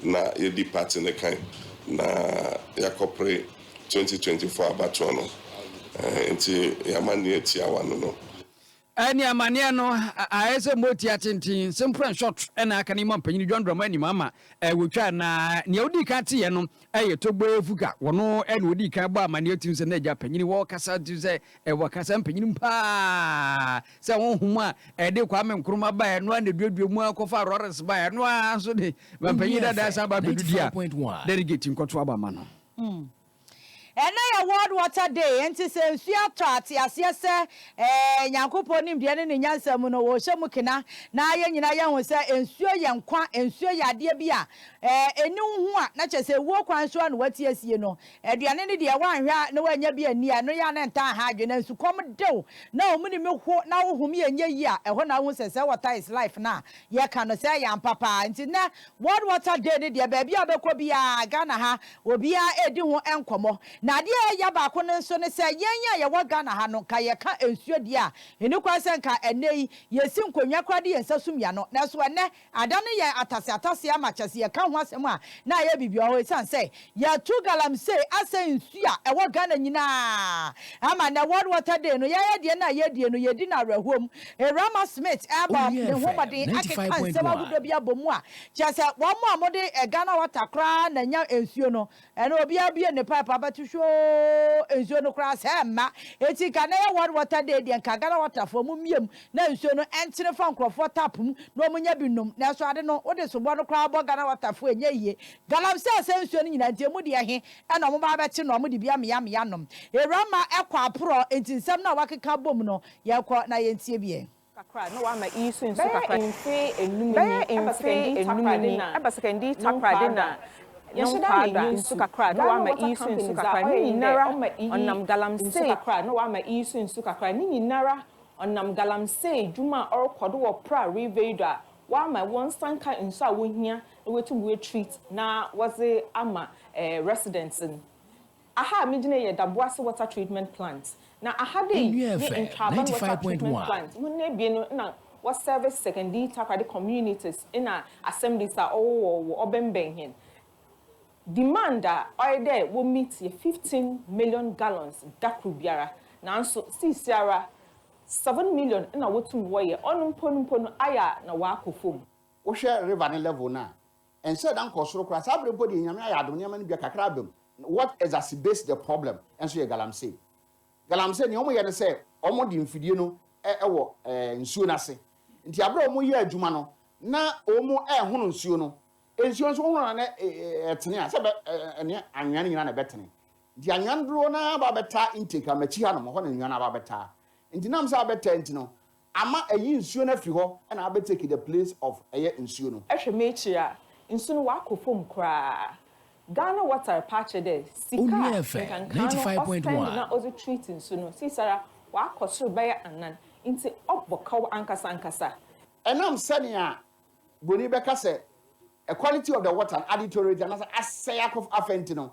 na yɛadi party no kan, na yɛakɔpere 2024 abatoɔ no. Enti yɛama nea tiawa no no. Ɛne amanneɛ no, ayɛ sɛ motia tenten, simple and short, na aka no yi ma ɔpanyin John Dramah anim ama wotwaa. Na nea odii kan teeɛ no yɛ Togbo Efuka. Ɔno na odii kan bɔɔ amanneɛ tirim sɛ, N'agya panyin wɔ kasa tirim sɛ ɛwɔ kasa mpanyinim paa, sɛ honhom a ɛde Kwame Nkrumah baeɛ no ara na eduadua mu ara kɔfaa Lawrence baeɛ, ɛno ara nso de mampanyin dada san ba abɛdidi a delegate nkɔto aba ma no. Ɛnnɛ yɛ World Water Day, enti sɛ nsu atɔ a, te aseɛ sɛ eh, Nyankopɔn nimdeɛ ne ne nyansa mu no, ɔrehyɛ mu kena. Na yɛn nyinaa yɛahu sɛ nsuo yɛ nkwa, nsuo yɛ adeɛ bi a eh, ɛnni wo ho a, na kyerɛ sɛ wuo kwan so ara na woate asie no. Aduane no deɛ, woanhwɛ a na woannya bi anni a, ɛno yɛ a na ntaa ha adwene. Nsukɔm de wo, na womene mu ho, na wo home yɛ nyɛ yie a, ɛhɔ na wohu sɛ sɛ water is life no a yɛka no, sɛ ɛyɛ ampa paa. Enti nnɛ, World Water Day no deɛ, baabi a wobɛkɔ biara, Ghana ha, obiara redi ho nkɔmmɔ. Na adeɛ a ɛya baako no nso ne sɛ, yɛn a yɛwɔ Ghana ha no, nka yɛka nsuo deɛ a, ɛnni kwan sɛ nka ɛnnɛ yi, yɛsi nkonnwa koraa de yɛn nsa sum y'ano. Nanso ɛnnɛ, adane yɛn ataseataseɛ ama kyerɛ sɛ yɛka ho asɛm a, na ayɛ biribi wɔ hɔ. Ɛsiane sɛ Yɛto galamsey asɛn nsu a ɛwɔ Ghana nyinaa ama nnɛ World Water Day no yɛayɛ deɛ na yɛdie no yɛdi no awerɛhoɔ mu. Erama Smith ɛrebɔ ne ho mmɔden akeka nsɛm ahodoɔ bi abɔ mu a kyerɛ sɛ wɔn a wɔde Ghana Water koraa na ɛnya nsuo no ɛno obiara bue ne pipe abɛto hwoo nsuo no koraa sɛ ɛmma ɛti nka nnɛ yɛ World Water Day deɛ nka Ghana Water foɔ mo mmie mu na nsuo no ɛntene fa nkurɔfoɔ tap mu na wɔnya bi nnom nanso ade no wode sobɔ no koraa bɔ Ghana Water foɔ ɛnyɛ yie Galamsey asɛm nsuo no nyinaa nti emu deɛ he na ɔmo baa bɛte no a ɔmo de bi amea amea nom. Ewurama ɛkɔ aporɔ nti nsɛm no a wakeka abom no yɛkɔ na yɛntie bi ɛ. kakra na wama iyi so nsu kakra. Bɛyɛ mfe enum ni ɛba sekɛndii takoradi na no nkwaa da. Yɛhyɛda na enye nsu kakra na wama iyi so nsu kakra ne nyinara ɔnam Galamsey. kakra na wama iyi so nsu kakra ne nyinara ɔnam Galamsey dwuma a ɔrekɔdo wɔ Pra Riveidɔ a Wɔama wɔn nsa nka nsu a wohia na woetum woetreat na wɔdze ama residents no. Aha a migyina yi yɛ Daboase Water Treatment Plant, na aha dei nye Ntwaaban Water Treatment Plant. Hɔn ebien no nna wɔserve Sekondii Takoradi communities na assemblies a ɔwowɔ wɔ ɔbɛnbɛn hɛn. Demand a ɔyɛ dɛ wo-meet yɛ fifteen million gallons da kor biara, naaso siisiara Seven million na wotum wɔyɛ ɔno mpo no mpo no ayɛ a na wɔakɔ famu. Wohwɛ river no level no a, ɛnsɛ da nkɔ soro koraa. Saa bere mpo deɛ Nyame ayɛ adom nneɛma no bi kakra aba mu. What exacerbates the problem nso yɛ galamsey. Galamsey nea wɔyɛ ne sɛ wɔde mfidie no wɔ nsuo no ase. Nti abere a wɔyɛ adwuma no na wɔn rehono nsuo no, nsuo nso wohono no na ɛtene a sɛ ɛbɛ ɛne anwea no nyinaa na ɛbɛtene. Nti nnwan dodoɔ no ara ba bɛtaa intake a m'akyi hanom, hɔ na nnwan aba bɛtaa. Nti nam sɛ abɛtaa nti no, ama ayi nsuo no afiri hɔ na abɛ take the place of ɛyɛ nsuo no. Hwɛ m'akyiri a, nsu no wakɔ fam koraa. Ghana water repaakyɛ dɛ sika a nkankaa no ɔspend na ɔdze treat nsu no seisara wakɔ sor bɛyɛ anan. Nti ɔbɔ kaw ankasa ankasa. Ɛnam sɛnea broni bɛka sɛ quality of the water no adeteriorate anaa sɛ asɛe akɔ afɛ nti no,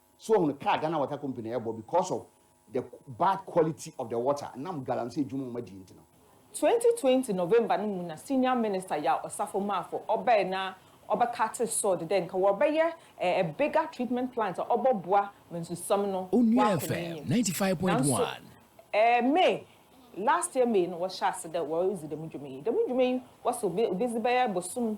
So ohun kaa Ghana water company ɛbɔ because of the bad quality of the water nam galamsey dwuma ɔmo adie nti no. Twenty twenty November no mu na senior minister Yaw Osafo Marfo ɔbɛe na ɔbɛ cutee sod dɛ nka wɔbɛyɛ a bigger treatment plant a ɔbɔ boa ma nsusam no Onua wakɔ FM n'enyim. ninety five point Nanso one. ɛɛ May, last year May no wɔhyɛɛ ase dɛ wɔredzi dɛm dwuma yi. Dɛm dwuma yi wɔse obe obedzi bɛyɛ bosoom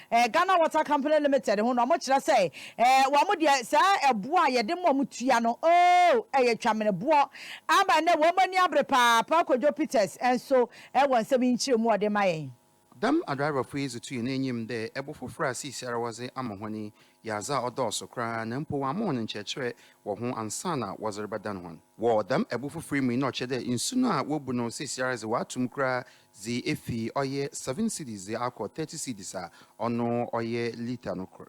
eh, Ghana Water Company Limited ho no, wɔn kyerɛ sɛ, eh, wɔn deɛ saa ɛboɔ a yɛde ma wɔn tua no, oh, ɛyɛ twameneboɔ. Ama ɛnɛ wɔn ani abere paa, Paa Kojo Peters nso wɔ nsɛm yi nkyerɛmu a ɔde ma yɛn. Dɛm adriverfo yi dze tui no enyim dɛ bo fofor a siesiara wɔdze ama hɔn yi yɛ adze a ɔdɔɔ so koraa na mpo wɔama hɔn nkyerɛkyerɛ wɔ ho ansaana wɔdze rebɛdan hɔn. Wɔ dɛm bo fofor yi mu yi na ɔkyerɛ dɛ nsu no a wobu no siesiara dze wɔato mu koraa Dze efi ɔyɛ seven cedis dze akɔ thirty cedis a, ɔno ɔyɛ litre no kor.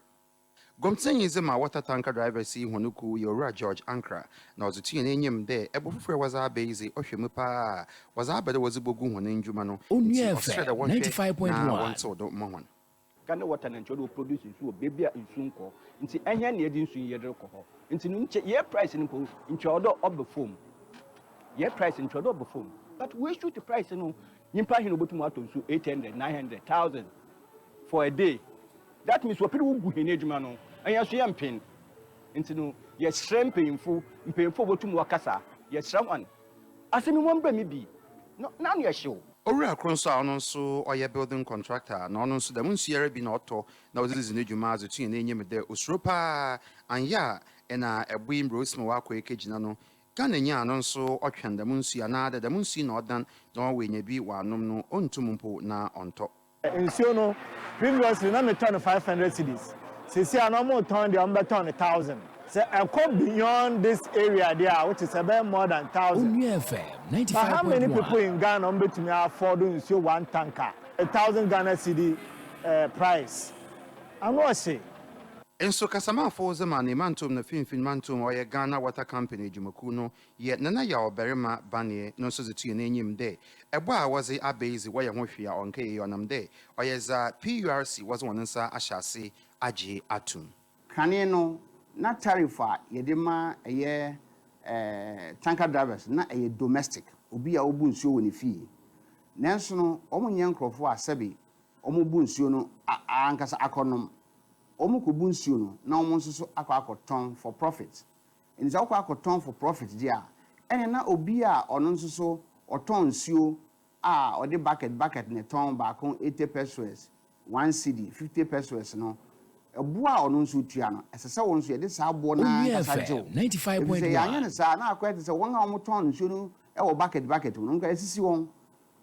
Gomtsenyi dze ma water tanker drivers yi hɔn kuw yɛ Owura George Ankra, na ɔdze to hɛn enyim dɛ bo fofor a wɔdze aba yi dze ɔhwɛ mu paa a, wɔdze aba dɛ wɔdze bogu hɔn ndwuma no, ntsi ɔserɛ dɛ wɔnhwɛ na wɔntsew do mma hɔn. Ka ne water na nkyɛ ɔde wɔ produce nsu wɔ baabi a nsu nkɔ nti ɛhɛn na yɛde nsu yi yɛde rekɔ hɔ nti no nkyɛ yɛ price no mpo nkyɛ ɔwɔ dɛ ɔba fom yɛ price no nkyɛ ɔwɔ dɛ ɔba fom but wei shoot price no nyimpa hen na obotum atɔ nsu eight hundred nine hundred thousand for a day that means wɔpɛ dɛ wogu hɛn edwuma no ɛnyɛ nso yɛ mpen nti no yɛsrɛ mpanyimfo mpanyimfo a wɔbotum wɔakasa yɛsrɛ hɔn. Ase me mom brɛ me bi no n'ano yɛ hyew. Owura kor so a ɔno so ɔyɛ building contractor na ɔno so dɛm nsu yi ara bi na ɔtɔ na ɔdze dzi no dwuma dze tuye n'enyim dɛ osuro paa annyɛ a nna ɛboe mbrɛ osi ma ɔakɔ ekegyina no Ghana nyi a no nso ɔtweɔn dɛm nsu yi anaa dɛ dɛm nsu yi na ɔdan na ɔwɔ enya bi ɔanom no onntum mpo na ɔnntɔ. Nsuo no previously na metɔ no five hundred cedis seesei a na wɔn tɔn deɛ wɔn bɛ tɔn no thousand sɛ ɛkɔ beyond this area deɛ a which is ɛbɛyɛ more than thousand but how many people in Ghana wɔn bɛtumi afford nsuo one tanker a thousand Ghana cedi eh, price ano ɔhye. Nso kasamafo dze ma ne mantom no finimfin mantom ɔyɛ Ghana Water Company edwumakuw no Yɛ Nana Yaw Barima Baneɛ no so dze to hɛn enyim dɛ, bɔ a wɔdze aba yi dze wɔyɛ ho hwee a ɔnnkɛyɛ yie ɔnam dɛ ɔyɛ dza PURC wɔdze hɔn nsa ahyɛ ase agye ato mu. Kane no, na tariff a yɛde ma ɛyɛ tanker drivers no na ɛyɛ domestic, obi a obu nsuo wɔ ne fie. Nanso no, wɔnyɛ nkorɔfoɔ a sɛbe wɔbu nsuo no ankasa akɔnom. Wɔkɔbu nsuo no na wɔn nso so akɔ akɔtɔn for profit. Enti sɛ wokɔ akɔtɔn for profit deɛ a, ɛneɛ na obi a ɔno nso so ɔtɔn nsuo a ɔde bucket bucket na ɛtɔn baako eighty pesewas, one cedi, fifty pesewas no, ɛboɔ a ɔno nso tua no, ɛsɛ sɛ wo nso yɛde saa boɔ no ara ankasa gye wo. Ɛfiri sɛ yɛanyɛ no saa a, na akɔyɛ te sɛ wɔn a wɔtɔn nsuo no wɔ bucket bucket mu no, nka yɛasisi wɔn.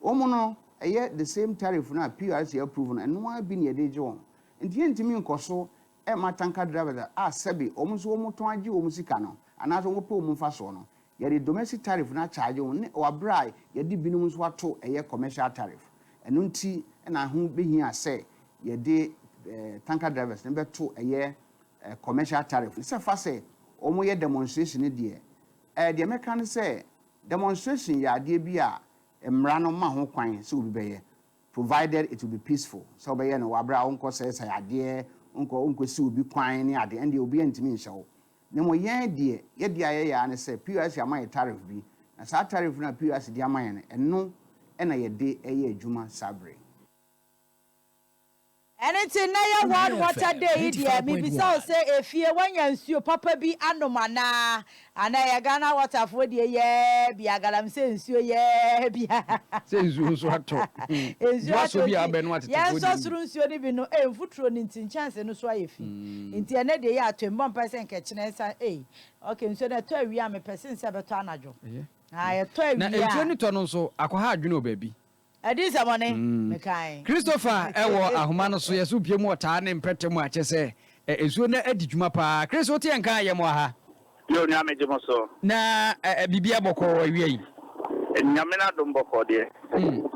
Wɔn no, ɛyɛ the same tariff no a PURC approve no, ɛno ara bi na yɛde regye wɔn. Enti yɛntumi nkɔ so ɛmma tanker drivers a sɛbe wɔn nso wɔtɔn agye wɔn sika no anaasɛ wɔpɛ wɔn mfasoɔ no, yɛde domestic tariff no akyagye wɔn ne wɔ berɛ a yɛde binom nso ato ɛyɛ commercial tariff. Ɛno nti na ɛho bɛhia sɛ yɛde tanker drivers no bɛto ɛyɛ commercial tariff no. Sɛ fa sɛ wɔyɛ demonstration no deɛ, deɛ mɛka ne sɛ demonstration yɛ adeɛ bi a mmara no mma ho kwan sɛ obi bɛyɛ. provided it will be peaceful, sɛ wobɛyɛ no w'abrɛ a wonkɔ sɛesɛe adeɛ, wonkɔ wonkɔ si obi kwan ne adeɛ, ɛndeɛ obiara ntumi nhyɛ wo. Na mmom yɛn deɛ, yɛdeɛ a yɛyɛ ara ne sɛ POS ama yɛn tariff bi, na saa tariff no a POS de ama yɛn no, ɛno na yɛde yɛ adwuma saa berɛ yi. Ɛno nti nnɛ yɛ World Water Day yi deɛ mebisa wo sɛ efie woanya nsuo papa bi anom anaa? Anaa ɛyɛ Ghana Water foɔ deɛ yɛɛ bia galamsey nsuo yɛɛ bia. Sɛ nsuo nso atɔ. Nsuo atɔ nti yɛnsɔ soro nsuo no bi no ei mfuturo no nti nkyɛnse no so ayɛ fi nti ɛnnɛ deɛ yɛ atɔ mbɔ mpae sɛ nka ɛkyena ɛsa ei ok nsuo no ɛtɔ awia a mepɛ sen sɛ ɛbɛtɔ anadwo haa ɛtɔ awia a. Na nsuo no tɔ no nso akɔha adwene wɔ baabi Ɛde nsɛmɔne ne kan. Christopher wɔ ahoma no so yɛ so pie mu ɔtaa ne mpɛtɛ mu a kyɛ sɛ nsuo no adi dwuma paa. Chris wo teɛ nka yɛ mo aha. Yoo nua megye mo so. Na biribiara bɔkɔɔ awia yi? Nyame n'adom bɔkɔɔ deɛ. Hmm.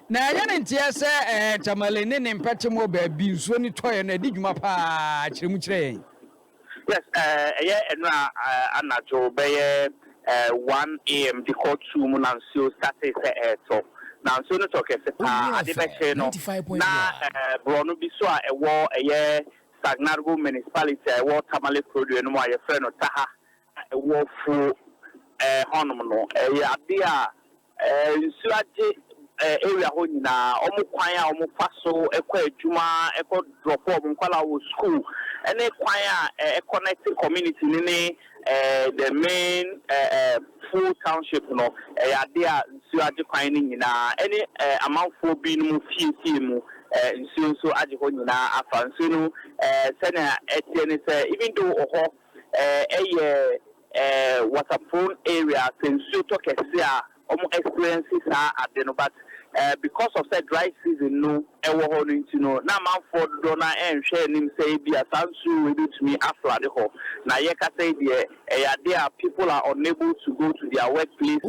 Na ɛnyɛ ne nteɛ sɛ Tamale ne ne mpɛte mu baabi nsuo no tɔeɛ no adi dwuma paa, kyerɛ mu kyerɛ yɛn. Yes, ɛyɛ nnora anadwo bɛyɛ one AM de kɔ two mu na nsuo startee sɛ ɛretɔ. Na nsuo no tɔ kɛse pa ara. Ade bɛkyee no na borɔno bi so a ɛwɔ ɛyɛ Sagnargu Municipality a ɛwɔ Tamale Kurodeɛ no mu a yɛfrɛ no Taha a ɛwɔ Fuo hɔnom no, ɛyɛ adeɛ a Nsuo agye area hɔ nyinaa, wɔn kwan a wɔfa so kɔ adwuma, kɔ drop wɔn nkwadaa wɔ sukuu, ne kwan a ɛconnect community no ne the main fuo township no, ɛyɛ adeɛ a nsuo agye kwan no nyinaa, ɛne amanfoɔ binom fiefie mu nsuo nso agye hɔ nyinaa afa. Nsuo no sɛnea ɛteɛ ne sɛ, even though wɔ hɔ ɛyɛ. eh water prone area sɛ nsuo tɔ kɛse a ɔmo experience saa ade no but eh because of sɛ dry season no ɛwɔ hɔ no nti no na amanfoɔ dodoɔ no ara ɛnhwɛ anim sɛ ebia saa nsuo wei bɛtumi a flood hɔ na yɛkasa yi deɛ ɛyɛ adeɛ a people are unable to go to their work places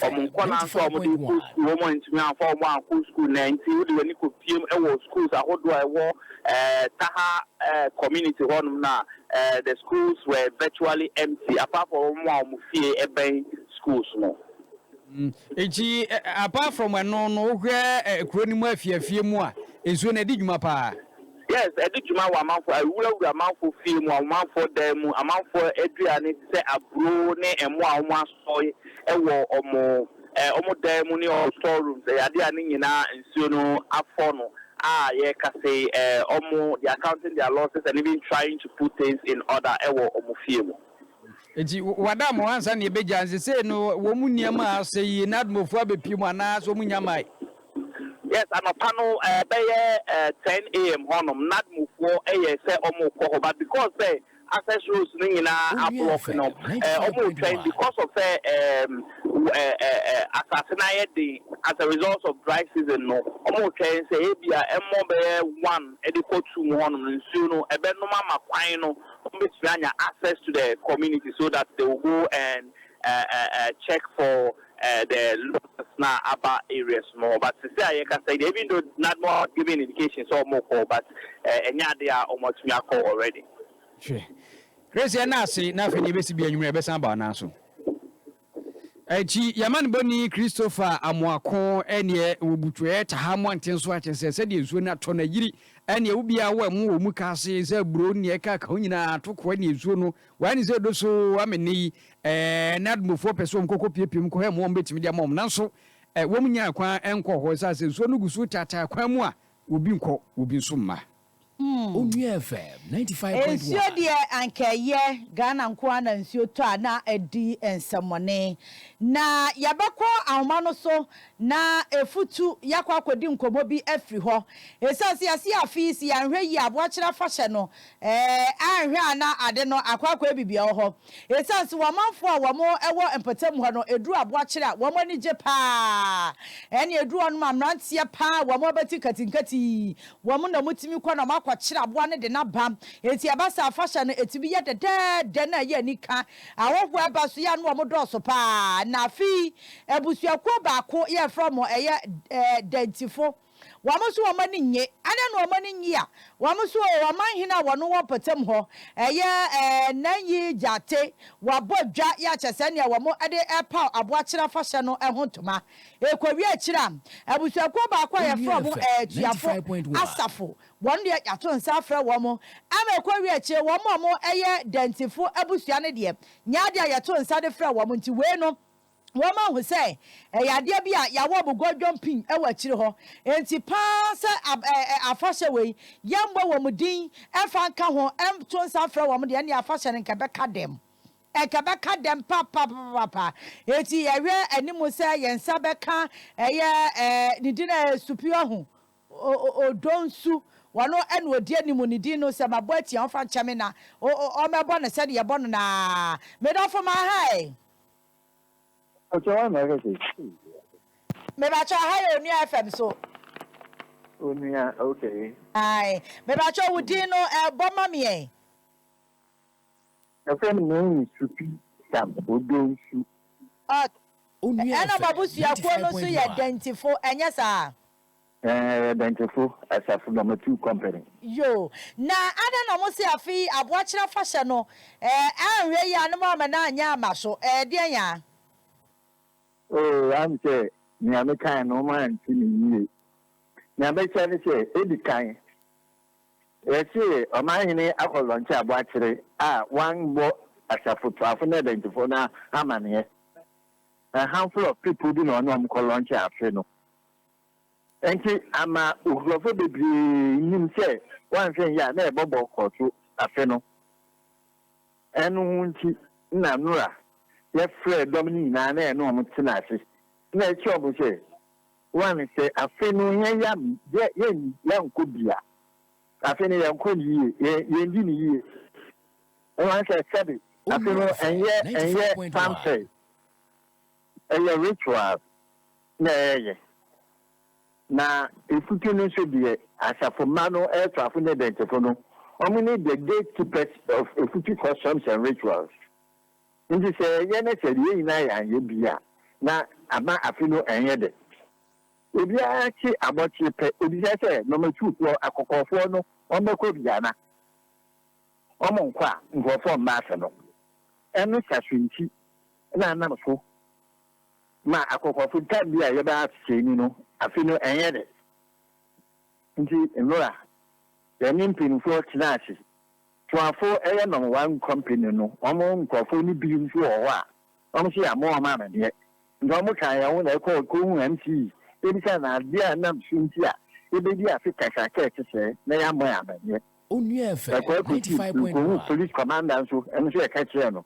ɔmo nkwadaa nso a ɔmo de kɔ school ɔmo antumi amfa ɔmo ankɔ school nnɛ nti wode w'ani kɔ piem ɛwɔ schools ahodoɔ a ɛwɔ eh Taha eh community hɔ nom no a The schools were virtually empty apart from wɔn a wɔn fie bɛn schools no. Nti apart from ɛno no, wohwɛ kuro no mu afie afie mu a, nsuo no ɛdi dwuma paa? Yes, ɛdi dwuma wɔ amanfoɔ, awurawura amanfoɔ fie mu, amanfoɔ dan mu, amanfoɔ aduane te sɛ aburo ne ɛmo a wɔasɔe wɔ wɔn. Wɔn dan mu ne wɔn store rooms yɛ adeɛ a ne nyinaa nsuo no afɔ no a yɛreka sei wɔn they are counting their losses and even trying to put things in order wɔ wɔn fie mu. Nti wada mo ansa na yɛbɛgya nti sei no wɔn mu nneɛma a asɛ yi na admɔfoɔ abɛpie mu anaa sɛ wɔn nnya mae? Yes anɔpa no ɛbɛyɛ 10 am hɔnom na admɔfoɔ yɛ sɛ wɔn rekɔ hɔ but because sɛ access roads no nyinaa ablock no wɔn retwɛn because of sɛ asase no ayɛ den as a result of dry season no wɔn retwɛn sɛ ebia ɛmmɔ bɛyɛ one de kɔ two mu hɔnom no nsuo no ɛbɛnom ama kwan no wɔn bɛtumi anya access to the community so that they will go and uh, uh, uh, check for eh, the lookers na aba areas no but sisi a yɛkasa yi even though NADMO has given indication sɛ ɔmo kɔ but eh, ɛnyɛ ade a ɔmo atumi akɔ already. Hwɛ. Grace yɛn na ase na afei deɛ ebesi bi anwummerɛ ɛbɛsan aba anan so. Ɛnti yɛma no bɔni Christopher Amoako ɛneɛ wɔ butuɛ taha mmɔnten so akyɛ sɛ sɛdeɛ nsuo no atɔ no ayiri ɛneɛ wo biara wɔ ɛmo wɔ mu ka ase sɛ buro neɛ ɛka ka ho nyinaa atokoa neɛ nsuo no Why ne sɛ edo so ama nnɛ yi ɛɛ na Admofo pɛ sɛ wɔn kɔkɔ piepie mu kɔhwɛ mmoa a wɔn betumi de ama wɔn nanso ɛɛ wɔn nnya kwan nkɔɔ hɔ esiane sɛ nsuo no gu so retaataa kwan mu a obi nkɔ obi nso mma. Onua FM ninety five point one. Nsuo deɛ anka ɛyɛ Ghana nko ara na nsuo tɔ a na adi nsɛmmɔne. Na yɛbɛkɔ ahoma no so na ɛfutu yɛakɔ akɔdi nkɔmmɔ bi afiri hɔ. Ɛsiane sɛ yɛasi afe yi si yɛanhwɛ yie a Aboakyere Afahyɛ no Ɛɛ, anhwɛ a na ade no akɔ akɔabi bea wɔ hɔ. Esiane sɛ w'amanfoɔ a wɔn wɔ mpɔtam hɔ no duru aboakyere a wɔn ani gye paa, ɛnna eduru hɔ no ma mmeranteɛ paa a wɔn abati nkatenkati yi, wɔn na wɔtumi kɔ na wɔakɔkyere aboa no de no aba. Enti ɛba sɛ afahyɛ no tumi yɛ dɛdɛɛdɛ na ɛyɛ anika. Ahɔhoɔ a ɛba so yi ara na wɔn dɔɔso paa. Na afei abusuakuo baako yɛfrɛ wɔn ɛyɛ Dantifo. Wɔn nso wɔn ani nnye. Adɛn na wɔn ani nnye a? Wɔn nso o, ɔmanhene a wɔne wɔn mpɔtam hɔ yɛ Nanyi Gyate, wɔabɔ dwa yɛ akyɛ sɛ nea wɔde repaw Aboakyere Afahyɛ no ho ntoma. Ɛrekɔwie akyiri a, abusuakuo baako a yɛfrɛ wɔn Atuafo Asafo, wɔn deɛ yɛato nsa afrɛ wɔn. Ama ɛkɔwie akyire, wɔn a wɔyɛ Dantefo abusua no deɛ, nyɛ adeɛ a yɛto nsa de frɛ wɔn. Nti wei no, Wɔma hu sɛ ɛyɛ adeɛ bi a yɛawɔ mu godwom pii wɔ akyire hɔ. Enti paa sɛ ab ɛ ɛ afahyɛ wei yɛmmɔ wɔn din mfa nka ho, nto nsa mfrɛ wɔn deɛ, ɛnneɛ afahyɛ no nka ɛbɛka dɛm. Nka ɛbɛka dɛm papapapapa. Enti yɛhwɛ anim sɛ yɛn nsa bɛka ɛyɛ ɛ ne din a ɛyɛ Supiɔhu o o Odonsu. Ɔno na ɔdi anim. Ne din no sɛ mabɔ atia a, ɔmfa nkyɛ me na o o ɔmmɛbɔ no sɛdeɛ yɛbɔ no no ara. Me dɔfo, m'ahae. Ɔkyɛ wa na ɔhwɛ sɛ. Mebakyɛw ha yɛ onua FM so. Onua okay. Ae mebakyɛw wo din no bɔ ma me ɛ. Yɛfrɛ no Mɛn Nsupi Sam Odo Nsu. Ɔt ɛna mo abusuakuo no nso yɛ Dantefo ɛnyɛ saa? Ɛɛ yɛyɛ Dɛnkyefo Asafo Bamatu Company. Yo, na adɛn na wɔse afei Aboakyere afahyɛ no ɛɛ anhwɛ yie a ne moamma no anyɛ amma so? Ɛɛdeɛn aa? Oo, am sɛ nea mekae no moante me yie. Nea mɛkyerɛ ne sɛ, edi kan, yɛse Ɔmanhene akɔ lɔnkye Aboakyere a wambɔ Asafotuafo ne Ɛdɛnkyefo no amaneɛ. A handful of people bi na ɔne wɔn kɔ lɔnkye afe no. Enti ama nkurɔfo bebree nim sɛ wɔanhwɛ nyɛ a na yɛbɛbɔ kɔ so afe no. Ɛno nti na nnora yɛfrɛɛ dɔm no nyinaa na yɛne wɔn tenaa ase na yɛkyerɛɛ wɔn sɛ, One, sɛ afe no yɛyam yɛ yɛnni yɛnkɔ bi a, afe no yɛnkɔ no yie, yɛ yɛndi no yie. One, sɛ sɛbe afe no ɛnyɛ ɛnyɛ fanfare, ɛyɛ ritual. na ɛreyɛ, na efutu no nso deɛ asafo mma no ɛɛtoafo ne ɛdɛntefo no, wɔn ne the gate keepers of efutu customs and rituals. Nti sɛ yɛyɛ na sɛ yɛn nyinaa yɛ anyɛ bi a, na ama afe no ɛnyɛ dɛ. Obiara te abɔkye pɛ, obisa sɛ nɔmatufoɔ, akɔkɔɔfoɔ no, wɔn bɛkɔ bi ana? Wɔn nkɔ a, nkorɔfoɔ mma afe no. Ɛno saso nti na nam so ma akɔkɔfo da bi a yɛbɛyɛ asesɛɛni no, afe no ɛnyɛ dɛ. Ntsi Nora, yɛnye mpanyimfo tsenaa ase. Tuafo yɛ Norway Company no hɔn nkorɔfo no bi so wɔ hɔ a, hɔn so yɛammɔ hɔn amandeɛ. Ntsi hɔn kaa hɛn ho na yɛkɔr kohun MC. Yebisaa no adze a nam so ntsi a yebedzi afe kakraka tse sɛɛ na yɛammbɔ hɛn amandeɛ. Yɛkɔr kosii do kohun Police Commander so, no so yɛkɛkyerɛɛ no.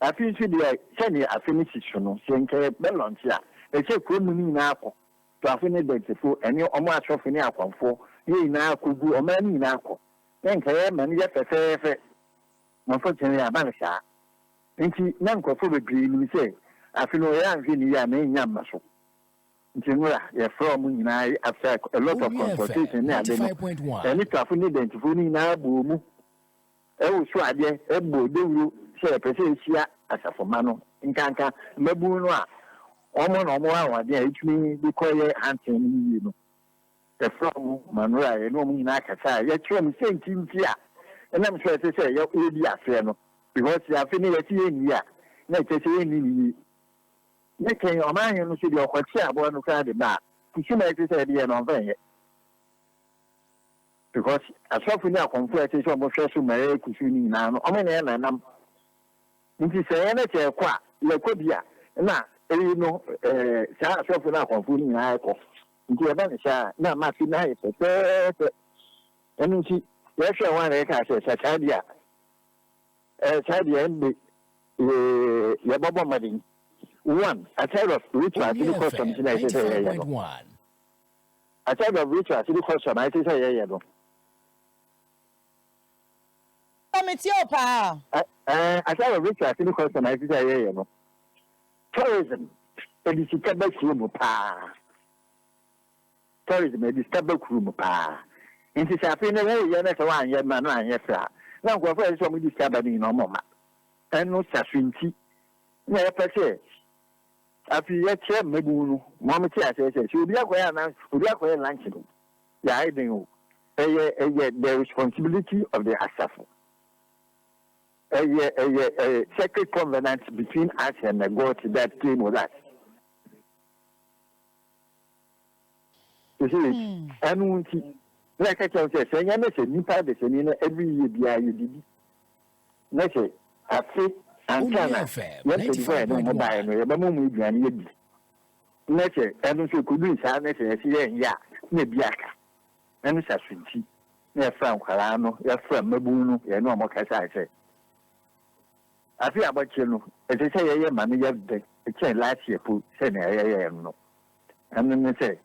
Afei nso deɛ sɛdeɛ afe no si so no, sɛ nka yɛbɛ launch a, ɛsɛ sɛ kuro no nyinaa kɔ, Tuafo ne Dansefo ɛne wɔn asɔfo ne akwanfoɔ ne yɛn nyinaa kɔ gu, ɔman no nyinaa kɔ, na nka yɛma no yɛ fɛfɛɛfɛ, na unfortunately aba no saa. Nti na nkorɔfoɔ bebree nim sɛ afe no yɛ anhwɛ no yie a na ɛnnya mma so, nti nwura yɛfrɛ wɔn nyinaa after a lot of consultation ne ade no, yɛne Tuafo ne Dansefo no nyinaa bɔɔ mu Ɛwɔ su adeɛ ɛbɔ dawuro sɛ ɛpɛ sɛ ɛhyia asafo mma no, nkanka mmabunu no a wɔn na wɔwɔ ahoɔden a ɛtumi de kɔ yɛ hansen no yiye no. Ɛfra mu ma no a yɛne wɔn nyinaa kasa a yɛkyerɛ wɔn sɛ nti nti a ɛnam so a ɛsɛ sɛ yɛdi aseɛ no because sɛ afe no yɛse yɛnni a na ɛkyɛ sɛ yɛnni no yie. Ne kɛn ɔmanhene no so deɛ ɔkɔkye aboa no koraa de ba a kusuma a ɛsɛ sɛ ɛde yɛ no ɔmfa nyɛ. Because asɔfo ne akɔmfo a ɛsɛ sɛ wɔhwɛ so ma ɛkɔ so no nyinaa no, wɔn nyinaa na ɛnam. Nti sɛ yɛn sɛ yɛkɔ a, yɛkɔ bi a na eyi no ɛɛ saa asɔfo ne akɔmfo no nyinaa ɛkɔ. Nti ɛba ne saa na ama afi no ayɛ pɛpɛɛpɛ. Ɛno nti yɛhwɛ wɔn a na yɛka sɛ sɛ saa deɛ a ɛɛ saa deɛ ɛnde ee yɛbɛbɔ mmɔden. One, aside of rituals ne customs na ɛsɛ sɛ yɛyɛ no. I said of Ritual, sɛ bi question a ɛte sɛ yɛyɛ no. Pa me tie o paa. Eh, I said of Ritual, sɛ bi question a ɛte sɛ yɛyɛ no. Tourism, ɛde sika ba kuro mu paa. Tourism, ɛde sika ba kuro mu paa. Nti sɛ afei na woyɛ na sɛ woanyɛ na na anyɛ fɛ a, na nkurɔfoɔ a ɛsɛ sɛ wɔde sika ba no nyinaa wɔn mma. Ɛno sa so nti na yɛpɛ sɛ Afei yɛkyerɛ mmabun no ma wɔte aseɛ sɛ, sɛ obi akɔyɛ announce, obi akɔyɛ lunch no, yɛayɛ dɛn o, ɛyɛ, ɛyɛ the responsibility of the asafo. Ɛyɛ, ɛyɛ a sacred covenant between us and the God that came with us. You see, hmm. ɛno nti, na ɛka kyerɛ sɛ, sɛ ɛnyɛ ne sɛ nnipa desani no ɛbɛyɛ biara yɛdidi. Ne se, Afe ansa na yɛmpedi hɔ a yɛde wɔn mo baeɛ no, yɛbɛma wɔn aduane adi. Ne se, Ɛno nso ɛkɔdui saa ne sɛ yɛse yɛrenyɛ a, na ebi aka. Ɛno sa so nti na yɛfra nkwadaa no, yɛfra mmabunu no, yɛne wɔn kasae sɛ, Afe abɔkye no, ɛsɛ sɛ yɛyɛ ma no yɛ dɛ kyɛn last year mpo sɛnea yɛyɛɛ no no. Ɛno ne sɛ.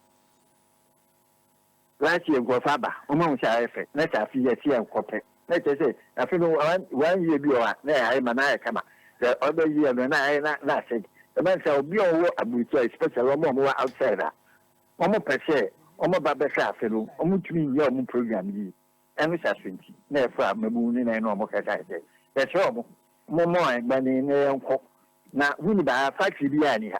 Last year nkorɔfo aba, wɔn ahu sɛ ayɛ fɛ, na sɛ afe yi ɛte a nkɔ pɛ, na kyerɛ sɛ afe no one year bi wɔ hɔ a na ayɛ ma na ayɛ kama, the other year no na ayɛ na asɛe. Ɛma no saa, obi a ɔwɔ aburokyire especially wɔn a wɔn wɔ outside a, wɔn pɛ sɛ wɔn ba bɛhwɛ afe no, wɔn ntumi nyɛ wɔn program yie, ɛno saa so nti na yɛfrɛ amamuu no na yɛne wɔn kasae sɛ yɛsrɛ wɔn, wɔn mmɔ yɛn mmɔden na yɛnkɔ, na huni baa factory biara nni ha.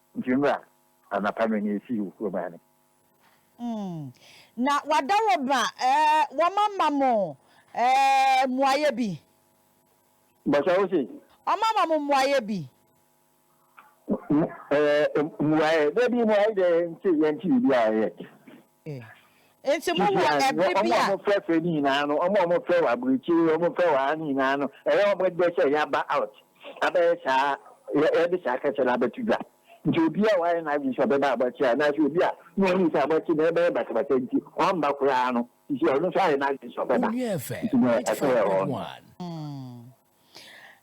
Nti mbra anapa no na yɛsi wo kurom ane. Mm, na wada wo ba eh, wɔma ma mo eh, mmuaeɛ bi. Bɔsɛ wo se. Wɔma ma mo mmuaeɛ bi. Mmu, eh, mmuaeɛ, dabi mmuaeɛ dɛ nti yɛnti biribi a yet. Nti mo wɔ ɛbere bi a. Wɔn a wɔn frɛ frɛ no nyinaa no, wɔn a wɔn frɛ wɔ aburokyire, wɔn frɛ wɔ ha no nyinaa no, ɛyɛ wɔn dɛ sɛ yaba out, abɛyɛ saa, yɛde saa kɛse no abɛto dwa. Nti obi a wayɛ n'adwene sɛ ɔbɛba abɔkyere anaasɛ obi a na ɔnim sɛ abɔkyere no ɛbɛyɛ basabasa nti wamma koraa no, sisi ɔno nso ayɛ n'adwene sɛ ɔbɛba. Nti na ɛsɛ yɛ hɔ no.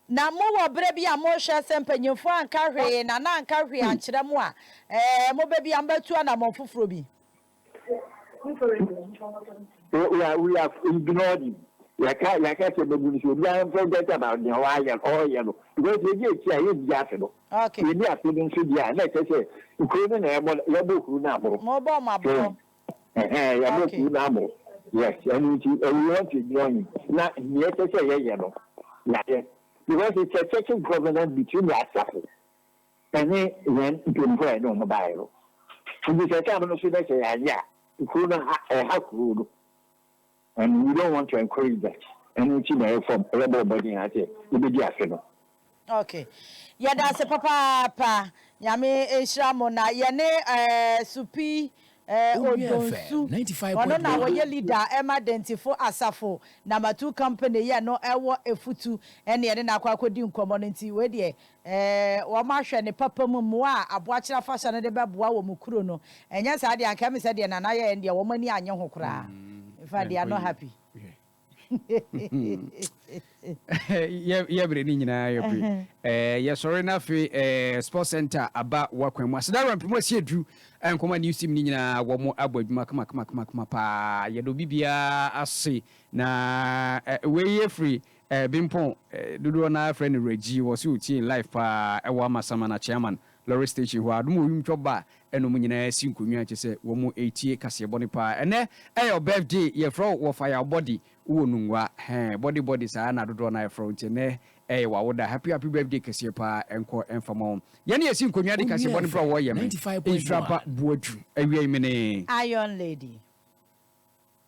Na mowɔ berɛ bi a mohwɛ sɛ mpanimfoɔ anka hwee na na anka hwee ankyerɛ mo a, ɛɛ, mobɛbi a mobɛtu anammɔn foforɔ bi. We are, we have ignored him. Yɛka, yɛaka sɛ mabu no sɛ obiara mforget about deɛ wayɛ, ɔɔyɛ no. Because yɛdi akyi a, yɛndi afe no. Okay. Yɛdi afe no nso deɛ a, na ɛkyɛ sɛ nkuro no na yɛbɔ, yɛbɔ kuro no aboro. Mobɔ wɔn aboro. So, Ɛhɛɛ, yɛn bo fuw n'amo. Yes, ɛno nti, we want to join him. Na nea ɛsɛ sɛ yɛyɛ no, yɛayɛ. Because it's a church's governance between the asafo ɛne yɛn mpanyinfo a yɛne wɔn baeɛ no. Nti sɛ tam no so na sɛ yɛanyɛ a, kuro no ha, ɛha kuro no. And we don't want to encourage that ɛno nti na yɛfa yɛbɔ mmɔden ara sɛ yɛbɛdi afe no. Ok. Yɛda ase papaapa. Nyame nhyira mo na yɛne eh, Supi eh, Odonsu. Ɔno na wɔyɛ leader ɛma Dɛntifo Asafo Namatu Company yɛ no ɛwɔ Efutu ɛne yɛne no akɔ akɔdi nkɔmmɔ no nti wei deɛ Ɛɛ, wɔahwɛ ne papa mu mmoa a Aboakyere Afahyɛ no de bɛboa wɔn kuro no. Ɛnyɛ saa deɛ, anka ɛme sɛ deɛ Nana yɛeɛ no deɛ, wɔn ani annye ho koraa. In fact, they are not happy. Yɛbrɛ ne nyinaa yɛ bere. Ɛɛ, yɛsɔre no afei ɛɛ, Sports Center aba wakwan mu. Aseda Rampi mu asi aduru. Nkɔma News Team ne nyinaa wɔn abɔ adwuma kama kama kama kama paa. Yɛda obi biara ase. Na wei yɛ firi Eh, Bimpong, eh, dodoɔ no ara frɛ no Reggie, wɔ se ɔtie in live paa ɛwɔ Amasaman, Akyeaman, lorry station hɔ a, adom ɔyum twɔ ba ɛna ɔmo nyinaa si nkonnwa kyɛ sɛ wɔmo etie kaseɛ bɔne paa, ɛnɛ ɛyɛ ɔ birthday, yɛfrɛ wo wɔ fire ɔ body, wowɔ nungua, hɛn, body body saa na dodoɔ no ara frɛ wo, nti ɛnɛ ɛyɛ w'awoda, happy happy birthday kɛseɛ paa, ɛnkɔ ɛmfa ma wo, yɛne yɛsi nkonnwa de kaseɛ bɔne berɛ a wɔyɛ me, nhyira ba Boadu, awiei mene. Iron lady.